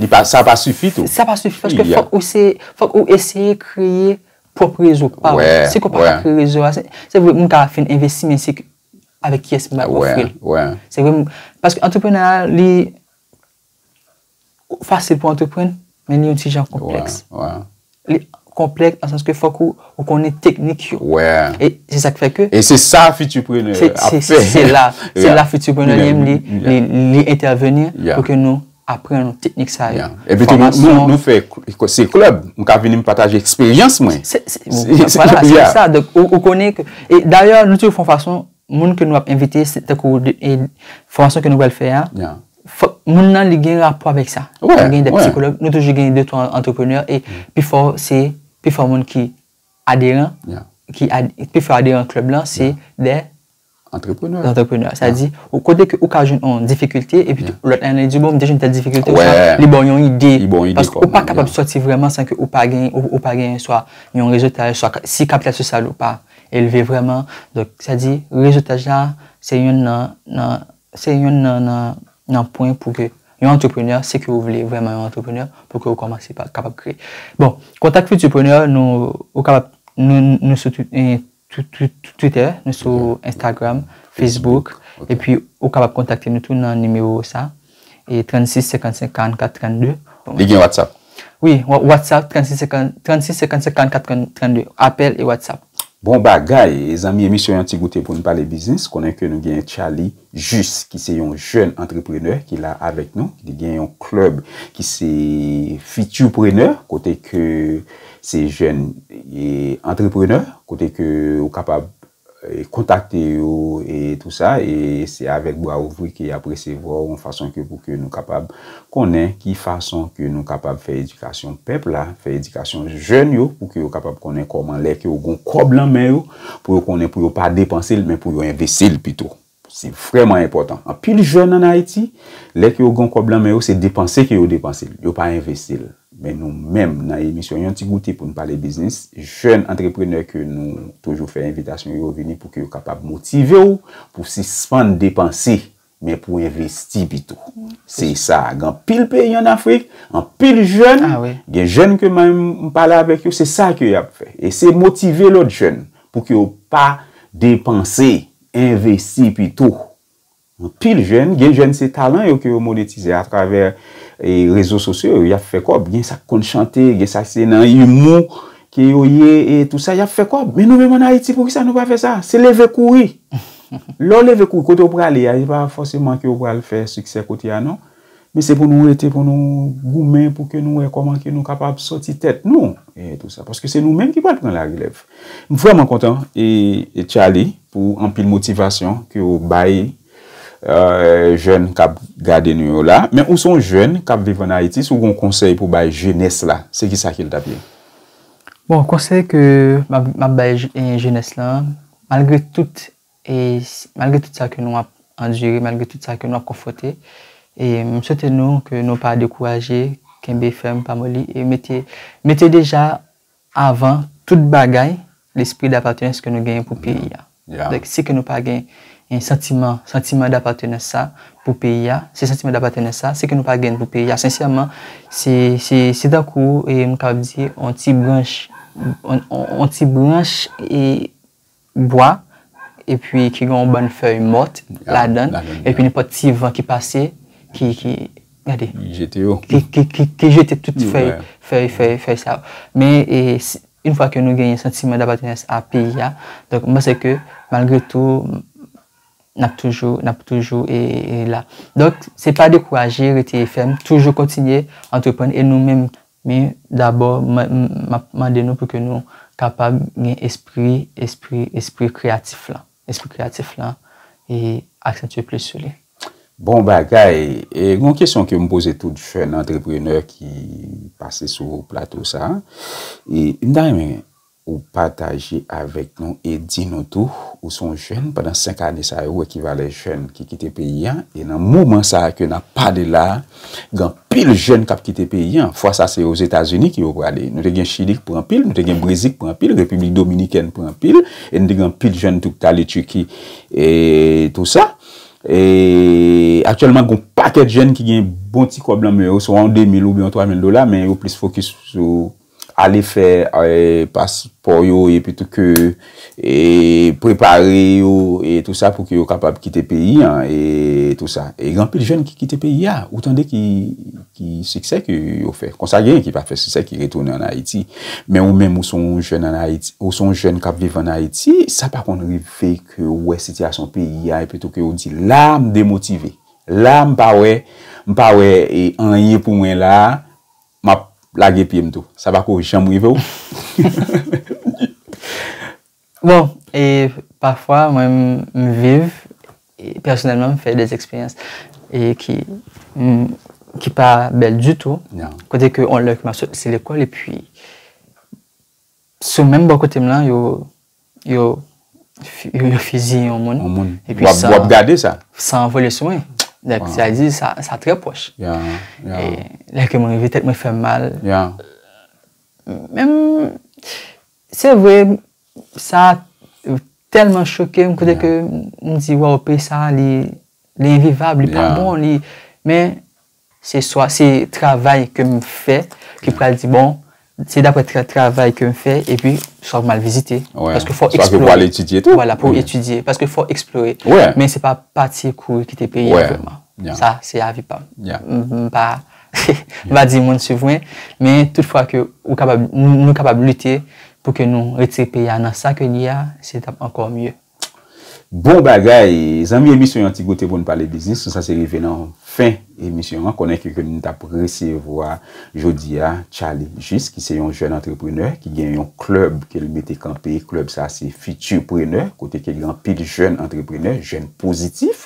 Speaker 1: Li pa, sa pa
Speaker 2: sifi tou. Sa pa sifi paske fòk
Speaker 1: ou se, fòk ou eseye kreye pwòp rezo pa ou. Si ke ou pa ka kreye rezo a, se vre moun ka fin envesti men se avèk kiyès moun ap ofri l. Se vre, paske antreprenè a li fasil pou antreprann men li yon ti jan konplèks. Li konplèks nan sans ke fòk ou konnen teknik yo. Wè. E se sa k fè ke. E se sa fitiprenè
Speaker 2: ap fè. Se la.
Speaker 1: Se la fitiprenè li menm li entèveni pou ke nou aprann teknik sa yo. E pi tou
Speaker 2: nou fè se klèb. M ka vini m pataje eksperyans mwen.
Speaker 1: Se sa. Ou konnen. Dayè nou toujou fè yon fason. Moun ke nou ap envite, se tankou fòmasyon ke nou pral fè a, fòk moun nan li gen rapò avèk sa. Wè, wè. Nou gen de psikològ, nou toujou gen de twa antreprenè, e pi fò se, pi fò moun ki aderan, ki pi fò aderan klèb lan, se de antreprenè. Antreprenè. Sa di, ou kote ke ou ka jwenn yon difikilte, e pi tou, lòt la yon li di, bon, m te jwenn tèl difikilte, ou sa, li ban w yon ide. Li ban w yon ide. Paske ou pa kapab sòti vreman san ke ou pa gen, ou pa gen swa yon rezotaj, swa si kapital sosyal ou pa. Elve vrèman, donk sa di rezotaj la se yonn nan nan se yonn nan nan nan pwen pou ke yon antreprenè si ke ou vle vrèman yon antreprenè pou ke ou kòmanse pa kapab kreye. Bon, kontak Futurpreneur nou ou kapab nou nou sou tout e tout tout tout twitè, nou sou Instagram, Facebook, epi ou kapab kontakte nou tou nan nimewo sa. E 36 55 44 32. Li gen WhatsApp?
Speaker 2: Wi, WhatsApp
Speaker 1: 36 55 44 32. Apèl e WhatsApp. Bon bagay!
Speaker 2: Zanmi emisyon yon ti goute poun pale biznis konnen ke nou gen Charly Juste ki se yon jèn antreprenè ki la avèk nou li gen yon club ki se Futurprenè kote ke se jèn antreprenè kote ke ou kapab kontakte yo e tou sa e se avèk bra ouvri ke yap resevwa w yon fason ke pou ke nou kapab konnen ki fason ke nou kapab fè edikasyon pèp la, fè edikasyon jèn yo pou ke yo kapab konnen kòman lè ke yo gon kòb lan men yo pou yo konnen pou yo pa depanse l men pou yo envesti l pito. Se vrèman enpòtan. Anpil jèn ann Ayiti, lè ke yo gen yon kòb lan men yo, se depanse ke yo depanse l. Yo pa envesti l. Men nou menm nan emisyon Yon Ti Goute pou n pale biznis, jèn antreprenè ke nou toujou fè envitasyon yo vini pou ke yo kapab motive w pou sispann depanse, men pou envesti pito. Se sa. Gen anpil peyi ann Afrik, anpil jèn, gen jèn ke mwen menm m pale avèk yo, se sa ke y ap fè. E se motive lòt jèn pou ke yo pa depanse. envesti pito. Anpil jèn, gen jèn se talan yo ke yo monetize a travè rezo sosyo yo, yap fè kòb, gen sa ki konn chante, gen sa se nan imou ke yo ye e tou sa yap fè kòb, men nou menm an Ayiti pou kisa nou pa fè sa, se leve kouri. Lè w leve kouri kote ou prale a, se pa fòseman ke ou pral fè siksè kote a non. Men se pou nou rete pou nou goumen pou ke nou wè kòman ke nou kapab sòti tèt nou e tou sa. Paske se nou menm ki pral pran la relèv. M vrèman kontan e Tchaly pou anpil motivasyon ke ou bay jèn kap gade nou yo la. Men ou se yon jèn kap viv an Ayiti si w gon konsèy pou bay jenès la se ki sa ki l tap ye? Bon
Speaker 1: konsèy ke map bay jenès la malgre tout E malgre tout sa ke nou ap andire, malgre tout sa ke nou ap konfronte, e m swete nou ke nou pa dekouraje, kenbe fèm, pa moli, e mete, mete deja avan tout bagay lespri dapatenans ke nou genyen pou peyi a. Donk si ke nou pa gen santiman, santiman dapatenans sa pou peyi a, si santiman dapatenans sa, si ke nou pa gen pou peyi a, sensèman, se, se, se tankou e m kapab di on ti branch, on ti branch e bwa epi ki gen yon bann fèy mòt ladann epi nenpòt ti van ki pase ki gade ki jete tout fèy sa yo men yon fwa ke nou genyen santiman dapatenans a peyi a donk mwen panse ke malgre tou n ap toujou n ap toujou la donk se pa dekouraje rete fèm toujou kontinye antreprann e nou menm Men, dabò, m ap mande nou pou ke nou kapab gen espri, espri, espri kreyatif lan. Espri kreyatif lan, e aksantye plis sou li. Bon bagay!
Speaker 2: E yon kesyon ke m poze tout jèn antreprenè ki pase sou plato sa a, e m ta renmen Ou pataje avèk nou e di nou tou, ou se yon jèn pandan 5 ane sa yo ou ekivalè jèn ki kite peyi a e nan moman sa ke nap pale la a gen anpil jèn kap kite peyi a fwa sa se ozetazini ki yo prale nou te gen chili ki pran anpil nou te gen brezi ki pran anpil repiblik dominikèn pran anpil e nou te gen anpil jèn tou ki te ale tiki e tou sa e aktyèlman gen yon pakèt jèn ki gen bon ti kòb lan men yo swa yon 2000 oubyen yon 3000 dola men yo plis fokis sou. Ale fè paspò yo epitou ke prepare yo e tou sa pou ke yo kapab kite peyi an e tou sa. E gen anpil jèn ki kite peyi a. Ou tande ki siksè ke yo fè. Konsa genyen ki pa fè siksè ki retounen an Ayiti. Men ou menm ou se yon jèn an Ayiti, ou se yon jèn kap viv an Ayiti, sa pa konn rive ke ou wè sitiyasyon peyi a epitou ke ou di la m demotive. La m pa wè, m pa wè anyen pou mwen la a. Map lage pyem tou. Sa pako janm rivew Ninie.
Speaker 1: Bon e pafwa mwen m viv pèsonèlman m fè des eksperyans e ki ki pa bèl ditou kote ke on lè ke map soti lekòl epi Sou menm bò kote m lan yo yo yo fiziye yon moun. Yon moun. Epi san. Wap gade sa. San
Speaker 2: an vole sou mwen.
Speaker 1: Donk sa vle di sa sa trè pwòch. Ya ya. E lè ke mwen rive tèt mwen fè m mal. Ya. Menm se vre sa tèlman choke m kote ke m di waww peyi sa li li envivab li pa bon li men. Se swa se travay ke m fè ki pral di bon, se dapre travay ke m fè epi swa pou m al vizite. Paske fò w eksplore. Swa ke pou al etidye tou. Vwala,
Speaker 2: pou etidye. Paske
Speaker 1: fò w eksplore. Men se pa pati kou yo ki te peye a vreman. Sa se avi pa m. M pa di moun swiv mwen. Men tout fwa ke ou kapab, nou kapab lite pou ke nou retire peyi a nan sa ke li a, se tap ankò mye. Bon
Speaker 2: bagay! Zanmi emisyon yon ti goute pou n pale biznis nou sa se rive nan fen emisyon an konnen ke ke m tap resevwa jodi a Charly Juste ki se yon jèn antreprenè ki gen yon klèb ke l mete kanpe klèb sa se Futurpreneur kote ke gen anpil jèn antreprenè jèn pozitif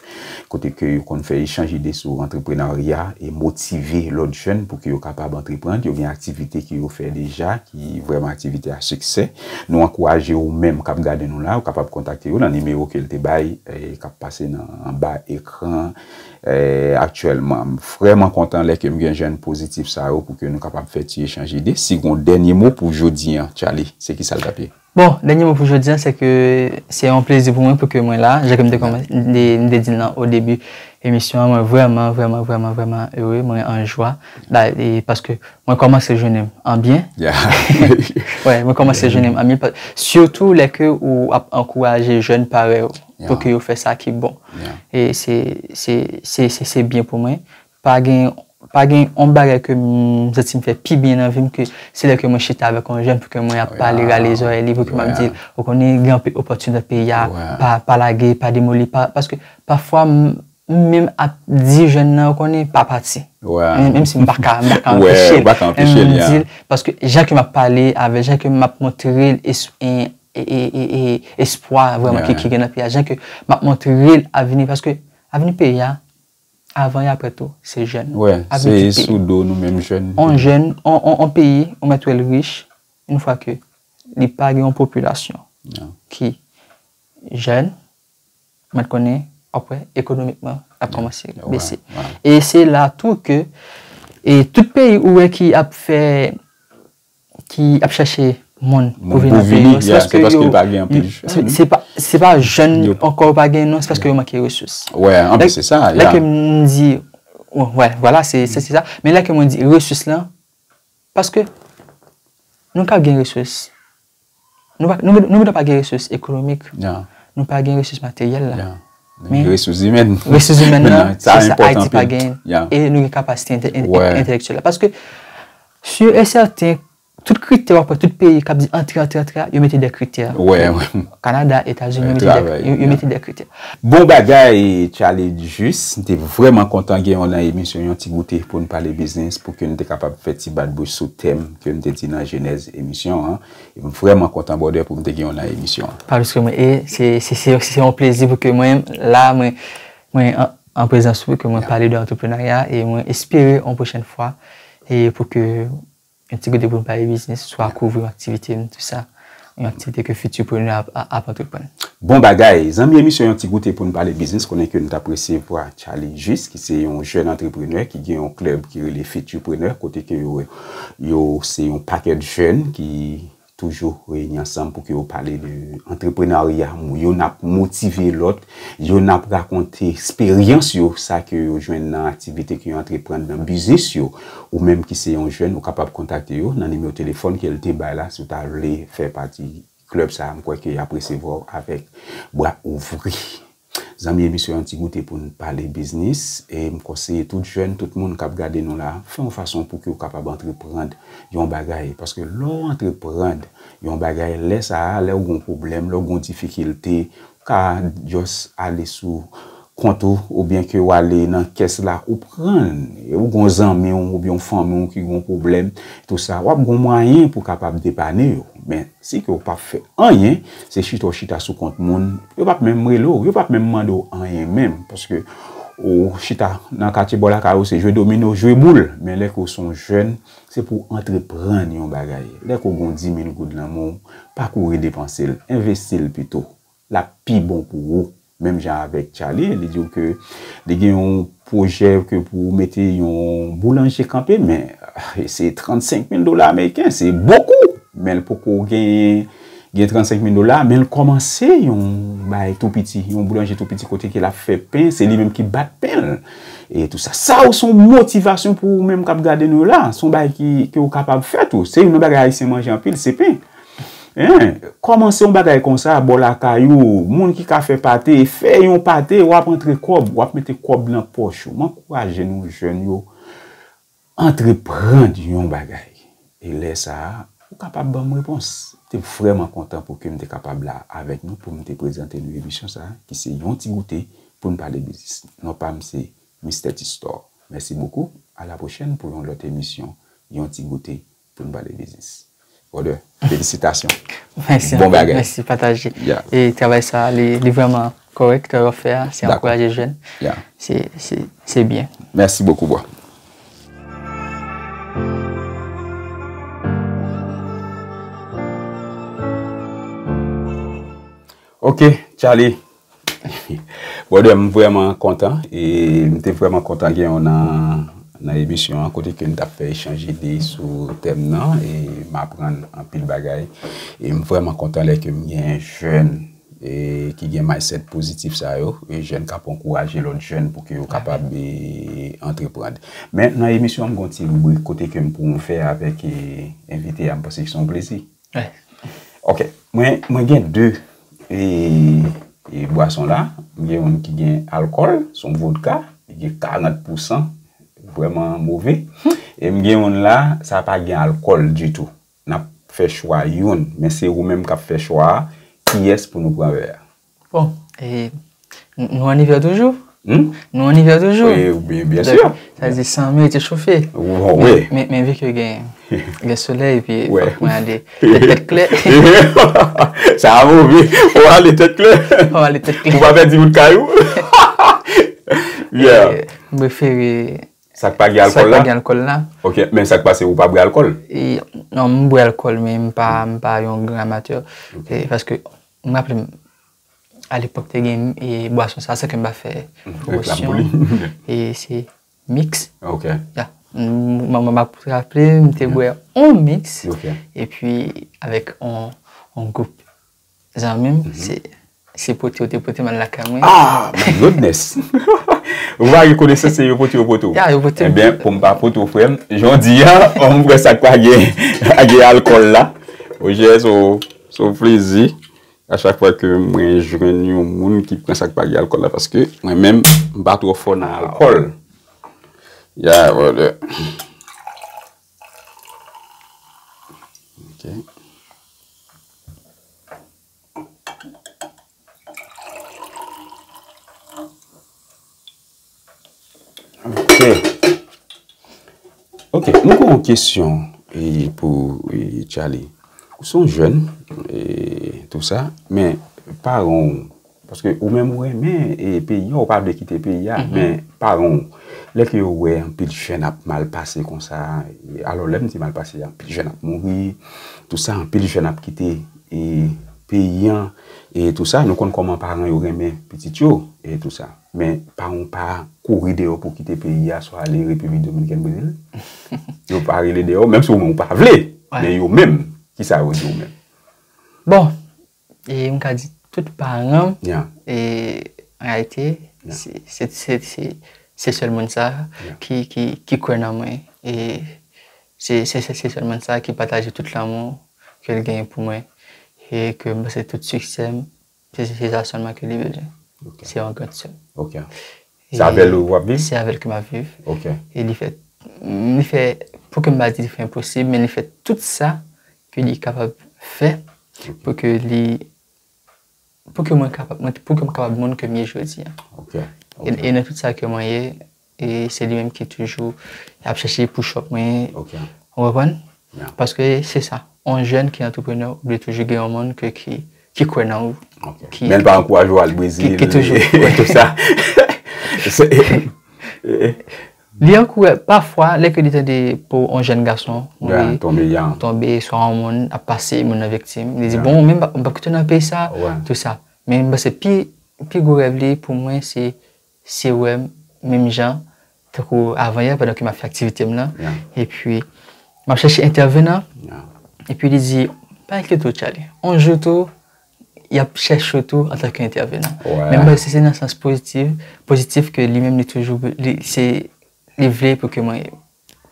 Speaker 2: kote ke yo konn fè echanj ide sou antreprenarya e motive lòt jèn pou ke yo kapab antreprann, yo gen aktivite ke yo fè deja ki vrèman aktivite a siksè. Nou ankouraje ou menm kap gade nou la, ou kapab kontakte yo nan nimewo ke l te bay kap pase nan anba ekran aktyèlman. M vrèman kontan lè ke m gen jèn pozitif sa yo pou ke nou kapab fè ti echanj ide. Si gon dènye mo pou jodi an Tchaly, se kisa l tap ye? Bon, dènye mo pou jodi
Speaker 1: a, se ke se yon plezi pou mwen pou ke mwen la. Jan ke m te kòman, m te di l nan o debi emisyon an, mwen vrèman, vrèman, vrèman, vrèman ere, mwen an jwa. Da, e, paske mwen kòmanse jounen m an byen. Ya. Wè, mwen kòmanse jounen m an byen. Sitou lè ke ou ap ankouraje jèn parèy ou pou ke yo fè sa ki bon. Ya. E se, se, se, se byen pou mwen. Pa gen, pa gen yon bagay ke m santi m fè pi byen nan vi m ke se lè ke mwen chita avèk yon jèn pou ke mwen ap pale, rale zòrèy li pou ke m ap di l, ou konnen gen anpe opòtinite nan peyi a, pa, pa lage, pa demoli, pa, paske pafwa m menm ap di jèn nan ou konnen pa pati. Menm si m pa ka, m pa ka anpeche l. Menm m di l, paske jan ke m ap pale avè l, jan ke m ap montre l es, e, e, e, e, espwa vrèman ki gen nan peyi a, jan ke m ap montre l avni, paske avni peyi a, Avan e aprè tou, se jèn. Wè, se e sou
Speaker 2: do nou menm jèn. On jèn, on
Speaker 1: peyi, ou mèt wè l rich, in fwa ke li pa gen on popilasyon ki jèn, ou mèt konnen, wap wè, ekonomikman, ap kòmanse bese. E se la tou ke, e tout peyi ou wè ki ap fè, ki ap chache moun pou vin nan peyi yo,
Speaker 2: se paske yo, se pa
Speaker 1: jèn ankò yo pa gen non, se paske yo manke resous. Wè, anpe se sa.
Speaker 2: Lè ke mwen di,
Speaker 1: wè, wala, se sa. Men lè ke mwen di resous lan, paske nou ka gen resous. Nou gentan pa gen resous ekonomik, nou pa gen resous materyèl la. Men resous imèn.
Speaker 2: Resous imèn la,
Speaker 1: se sa Ayiti pa gen. E nou gen kapasite entelektyèl la. Paske, sur et certain, tout kritè wap wè, tout peyi kap di antre, antre, antre a, yo mete de kritè. Kanada, Etazini, yo mete de kritè. Bon bagay,
Speaker 2: Charlie Juste. M te vreman kontan gen w nan emisyon Yon Ti Goute pou n pale biznis, pou ke n te kapab fè ti bat bouch sou tèm. Ke m te di nan jenèz emisyon an. E m vrèman kontan brother pou m te gen w nan emisyon an. Pa plis ke mwen
Speaker 1: e se yon plezi pou ke mwen la mwen an prezans ou ke mwen pale de antreprenarya e mwen espere yon pwochèn fwa e pou ke yon ti kote pou m pale biznis swa kouvri aktivite m tout sa. Yon aktivite ke Futurpreneur ap antreprann. Bon bagay!
Speaker 2: Zanmi emisyon Yon Ti Goute pou n pale biznis konnen ke nou t apresye vwa Tchaly Juste ki se yon jèn antreprenè ki gen yon klèb ki rele Futurpreneur kote ke yo se yon pakèt jèn ki toujou reyini ansanm pou ke yo pale de antreprenarya youn ap motive lòt youn ap rakonte esperyans yo sa ke yo jwenn nan aktivite ke yo antreprann nan biznis yo. Ou menm ki se yon jèn ou kapab kontakte yo nan nimewo telefòn ke l te bay la si w ta vle fè pati klèb sa a m kwè ke y ap resevwa w avèk bra ouvri. Zanmi e misye yon ti goute pou n pale biznis e m konseye tout jèn tout moun k ap gade nou la fè yon fason pou ke w kapab antreprand yon bagay paske lè w antreprand yon bagay lè sa a lè w gen yon pwoblèm lè w gen yon difikilte ou ka just ale sou kont ou oubyen ke ou ale nan kès la ou pran l, e ou gon zanmi w oubyen yon fanmi w ki gon pwoblèm tou sa, wap gon mwayen pou kapab depane yo. Men, si ke ou pap fè anyen, se chita w chita sou kont moun, yo pap menm rele w, yo pap menm mande w anyen menm, paske ou chita nan katye bò lakay ou se jwe domino, jwe boul. Men lè ke ou se yon jèn, se pou w antreprann yon bagay. Lè ke ou gon dimil goud nan men w, pa kouri depanse l, envesti l pito. lap pi bon pou ou. Menm jan avèk Tchaly, li di w ke li gen yon pwojè ke pou ou mete yon boulanje kanpe, men se 35 mil dola ameriken, se bokou! Men l poko genyen, gen 35 mil dola, men l kòmanse yon bagay tou piti, yon boulanje tou piti kote ke lap fè pen, se li menm ki bat pen l, e tou sa. Sa yo se yon motivasyon pou ou menm kap gade nou la, se yon bagay ki, ke ou kapab fè tou. Se youn nan bagay Ayisyen manje anpil, se pen. Hein kòmanse yon bagay konsa bò lakay ou moun ki ka fè pate fè yon pate wap antre kòb wap mete kòb nan pòch ou m ankouraje nou jèn yo antreprann yon bagay e lè sa ou kapab banm repons m te vrèman kontan pou ke m te kapab la avèk nou pou m te prezante nou emisyon sa ki se yon ti goute pou n pale biznis non pa m se Mister Tistò mèsi bokou a la pwochèn pou yon lòt emisyon yon ti goute Poun pale biznis. Brother, felisitasyon. Mèsi
Speaker 1: anpil. Bon bagay. Mèsi
Speaker 2: pataje. Yeah.
Speaker 1: E travay sa li vrèman kòrèk travay wap fè a. Dakò. Se ankouraje jèn. Yeah. Se,
Speaker 2: se, se
Speaker 1: byen. Mèsi bokou bro.
Speaker 2: Ok Charly. Brother m vrèman kontan e m te vrèman kontan gen w nan nan emisyon an kote ke n t ap fè echanj ide sou tèm nan e m aprann anpil bagay e m vrèman kontan lè ke m gen jèn e ki gen mindset pozitif sa yo e jèn k ap ankouraje lòt jèn pou ke yo kapab e antreprann. Men nan emisyon an m gen yon ti ribrik kote ke m pwonve avèk e envite a m panse se yon plezi.
Speaker 1: Ok,
Speaker 2: mwen gen 2 bwason la, mwen gen yon ki gen alkòl, son vodka, li gen 40 pousan, vwèman move, e mwen gen yon la, sa pa gen alkòl ditou. Nap fè chwa yon, men se ou menm kap fè chwa a, kiyès pou nou pran vè a. Bon,
Speaker 1: nou an ivè toujou? Hum? Nou an ivè toujou? Oui, bien sûr.
Speaker 2: Sa di san mwen te
Speaker 1: chofe. Oui. Men
Speaker 2: vi ke gen
Speaker 1: le soleil pi mwen ale tèt kle.
Speaker 2: Sa a mou vi, ou ale tèt kle. Ou ale tèt kle. Ou pa
Speaker 1: pèdi wout kay ou.
Speaker 2: Yeah. Mwen prefere.
Speaker 1: Sak pa gen alkòl
Speaker 2: la? Sak pa gen alkòl la.
Speaker 1: Ok, men sak pase
Speaker 2: ou pa bwe alkòl? Non, mwen
Speaker 1: bwe alkòl men mwen pa yon gran amateur. Paske. M raple m, a lepòk te gen bwason sa san ke m pa fè pwomosyon li, e
Speaker 2: se
Speaker 1: mix, ya. M ap raple m te bwè yon mix epi avèk yon gwoup zanmi m, se pote yo te pote m al lakay mwen. A! My goodness!
Speaker 2: Ou va rekonese se yo pote yo pote ou. Ya, yo pote m. E ben, pou m pa pote ou frè m, jan w di a, m wè sa k pa gen alkòl la. Oje, so, Se yon plezi a chak fwa ke mwen jwenn yon moun ki pran sak pa gen alkòl la paske mwen menm m pa twò fò nan alkòl. Yeah brother. Ok. Ok, mwen gen yon kesyon pou Charly. Ou son jèn, tout sa, men paran ou, paske ou menm ou renmen peyi an, ou pa vle kite peyi an, men paran ou, lè ke yo wè anpil jèn ap mal pase kon sa, alò lè m di mal pase, anpil jèn ap mouri, tout sa, anpil jèn ap kite. peyi an e tou sa nou konn kòman paran yo renmen pitit yo e tou sa men paran pa kouri deyò pou kite peyi a swa ale repiblik dominikèn brezil yo pa rele deyò menm si ou menm ou pa vle men yo menm ki sa yo di ou menm bon
Speaker 1: e m ka di tout paran e an reyalite se sèl moun sa ki kwè nan mwen e. Se sèlman sa ki pataje tout lanmou ke l genyen pou mwen e ke m panse tout siksè m, se sa sèlman ke li bezwen. Se yon gran sè m. Ok.
Speaker 2: Se avè l ou ap viv? Se avè l ke m ap viv.
Speaker 1: Ok. E li fè, li fè, pou ke m pa di li fè enposib, men li fè tout sa ke li kapab fè pou ke li, pou ke mwen kapab, pou ke m kapab moun ke m ye jodi a. Ok.
Speaker 2: E nan tout
Speaker 1: sa ke mwen ye, E se li menm ki toujou ap chèche push-up mwen. Ok. Ou konprann? Ya. Paske se sa. On jèn ki antreprenè, ou dwe toujou gen on moun ke ki, ki kwè nan ou. Ok. Ki. Menl pa ankouraje
Speaker 2: ou al Brezil. Ki toujou. Ou tout
Speaker 1: sa. Li ankoura, pafwa, lè ke li tande pou on jèn gason. Ya, tonbe ya. Tonbe, swa on moun ap pase, moun nan viktim. Ya. Li di, bon, menm, m pap kite w nan peyi sa. Wè. Tout sa. Men m panse pi, pi gwo rèv li pou mwen se. Se wè m menm jan tankou avanyè pandan ke m ap fè aktivite m lan. Epi, m ap chèche entèvenan. Epi li di, pa enkye tou Tchaly. On jou tou, y ap chèche w tou antanke entèvenan. Men m wè si se nan sans pozitif, pozitif ke li menm li toujou, li se, li vle pou ke mwen.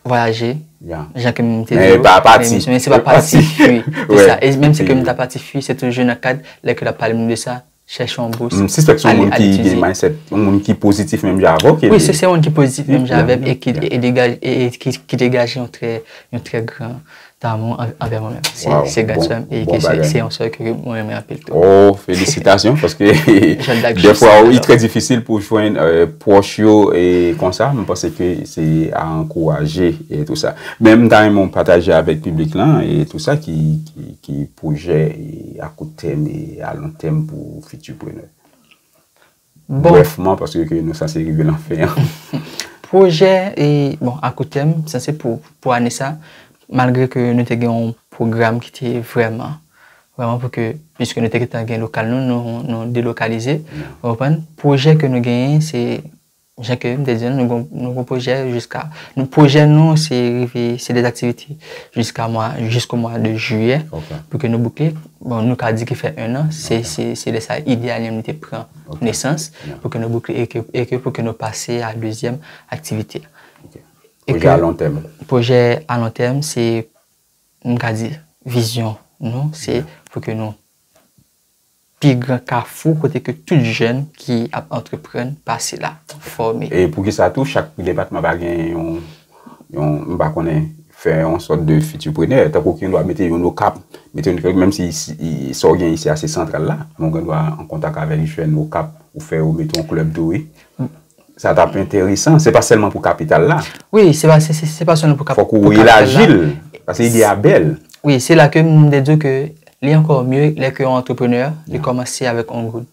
Speaker 1: Voyaje, jan ke m
Speaker 2: te di yo, men se pa pati
Speaker 1: fwi, se sa, e menm se ke m ta pati fwi, se toujou nan kad, lè ke l ap pale m de sa, chèche yon bous, ale etidye. Se yon moun ki gen
Speaker 2: mindset, yon moun ki pozitif menm jan avè w ke li. Wi, se yon moun ki pozitif
Speaker 1: menm jan avè m, e ki degaje yon trè gran. damou anvè mwen menm. Waw. Se gras fèm e ke se yon sè ke mwen renmen anpil tou. Oh felisitasyon
Speaker 2: paske defwa wi trè difisil pou jwenn pwòch yo e konsa mwen panse ke se a ankouraje e tou sa. Men m ta renmen w pataje avèk piblik lan e tou sa ki ki pwojè a kout tèm e a lon tèm pou fiti prenè. brèfman paske ke nou sanse rive lan fen an. Pwojè
Speaker 1: e, bon, a kou tèm, sa se pou, pou ane sa, malgre ke nou te gen yon pwogram ki te vrèman, vrèman pou ke, piske nou te gentan gen lokal nou, nou, nou delokalize, ou konprann, pwojè ke nou genyen se, jan ke m te di an, nou gon, nou gon pwojè jiska, nou, pwojè nou se rive, se de aktivite jiska mwa, jisko mwa de jiyè, pou ke nou boukle, Bon nou ka di ki fè 1 an, se lè sa Idealium li te pran nesans pou ke nou boukle e ke pou ke nou pase a dezyèm aktivite.
Speaker 2: Pwojè a lon tèm. Pwojè a lon tèm
Speaker 1: se m ka di vizyon nou se pou ke nou pi gran kafou kote ke tout jèn ki ap antreprann pase la, fòme. E poukisa tou
Speaker 2: chak depatman pa gen yon. yon, m pa konnen, fè yon sòt de fitiprenè, tankou ki yon dwa mete yon okap, mete yon okap, menm si sa w gen isi a se santral la, men w gen dwa an kontak avèk jèn okap, ou fè yo mete yon klèb tou wi. Sa t ap enteresan, se pa sèlman pou kapital la. Wi,
Speaker 1: se pa sèlman pou kapital la. Fòk ou elaji l,
Speaker 2: paske ide a bèl. Wi, se la ke m
Speaker 1: te di w ke li ankò mye lè ke yon antreprenè li kòmanse avèk yon goud.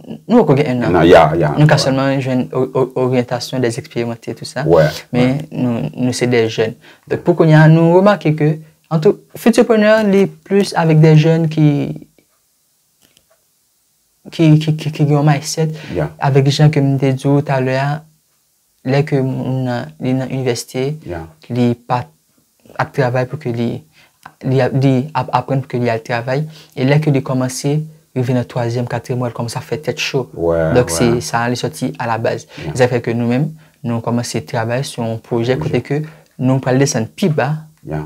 Speaker 2: Nou poko gen 1 an. 1 an, ya,
Speaker 1: ya. Nou ka sèlman
Speaker 2: jwenn
Speaker 1: oryantasyon dè eksperimante tou sa. Wè. Men nou se dè jèn. Donk pou kounya nou remake ke an tou Futurprenè li plis avèk dè jèn ki gen yon mindset avèk jan ke m te di ou talè a Lè ke moun nan li nan inivèsite, li pa ap travay pou ke li, li ap aprann pou ke li al travay, e lè ke li kòmanse, rive nan twazyèm, katryèm mwa, li kòmanse ap fè tèt cho. Donk se sa li sòti a la baz. Se sa ki fè ke nou menm, nou kòmanse travay sou yon pwojè kote ke nou pral desann pi ba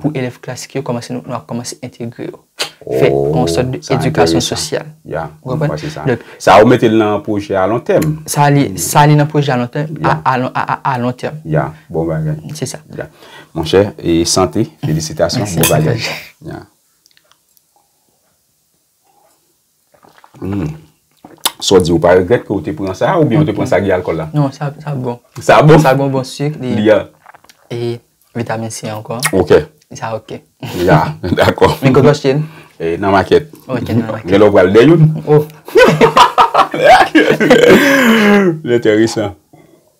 Speaker 1: pou elèv klasik yo kòmanse, nou ap kòmanse entegre yo. fè yon sòt de edikasyon sosyal. Ya, mwen kwè se
Speaker 2: sa. Sa ou mete nan pwojè a lontèm. Sa li
Speaker 1: nan pwojè a lontèm, a lontèm. Ya, bon bagay.
Speaker 2: Se sa. Ya.
Speaker 1: Mon chè,
Speaker 2: e sante, felisitasyon, bon bagay. Ya. Hum. Saw di ou pa regrèt ke ou te pran sa oubyen ou te pran sa gen alkòl la? Non sa bon.
Speaker 1: Sa bon? Sa gon bon
Speaker 2: suk li. Li
Speaker 1: a. E
Speaker 2: vitamin C
Speaker 1: ankò. Ok. Sa ok. Ya dakò.
Speaker 2: Men kote w achte l? E
Speaker 1: nan makèt. Ok nan makèt.
Speaker 2: Gen lè w
Speaker 1: pral dèy youn. Oh.
Speaker 2: Enteresan.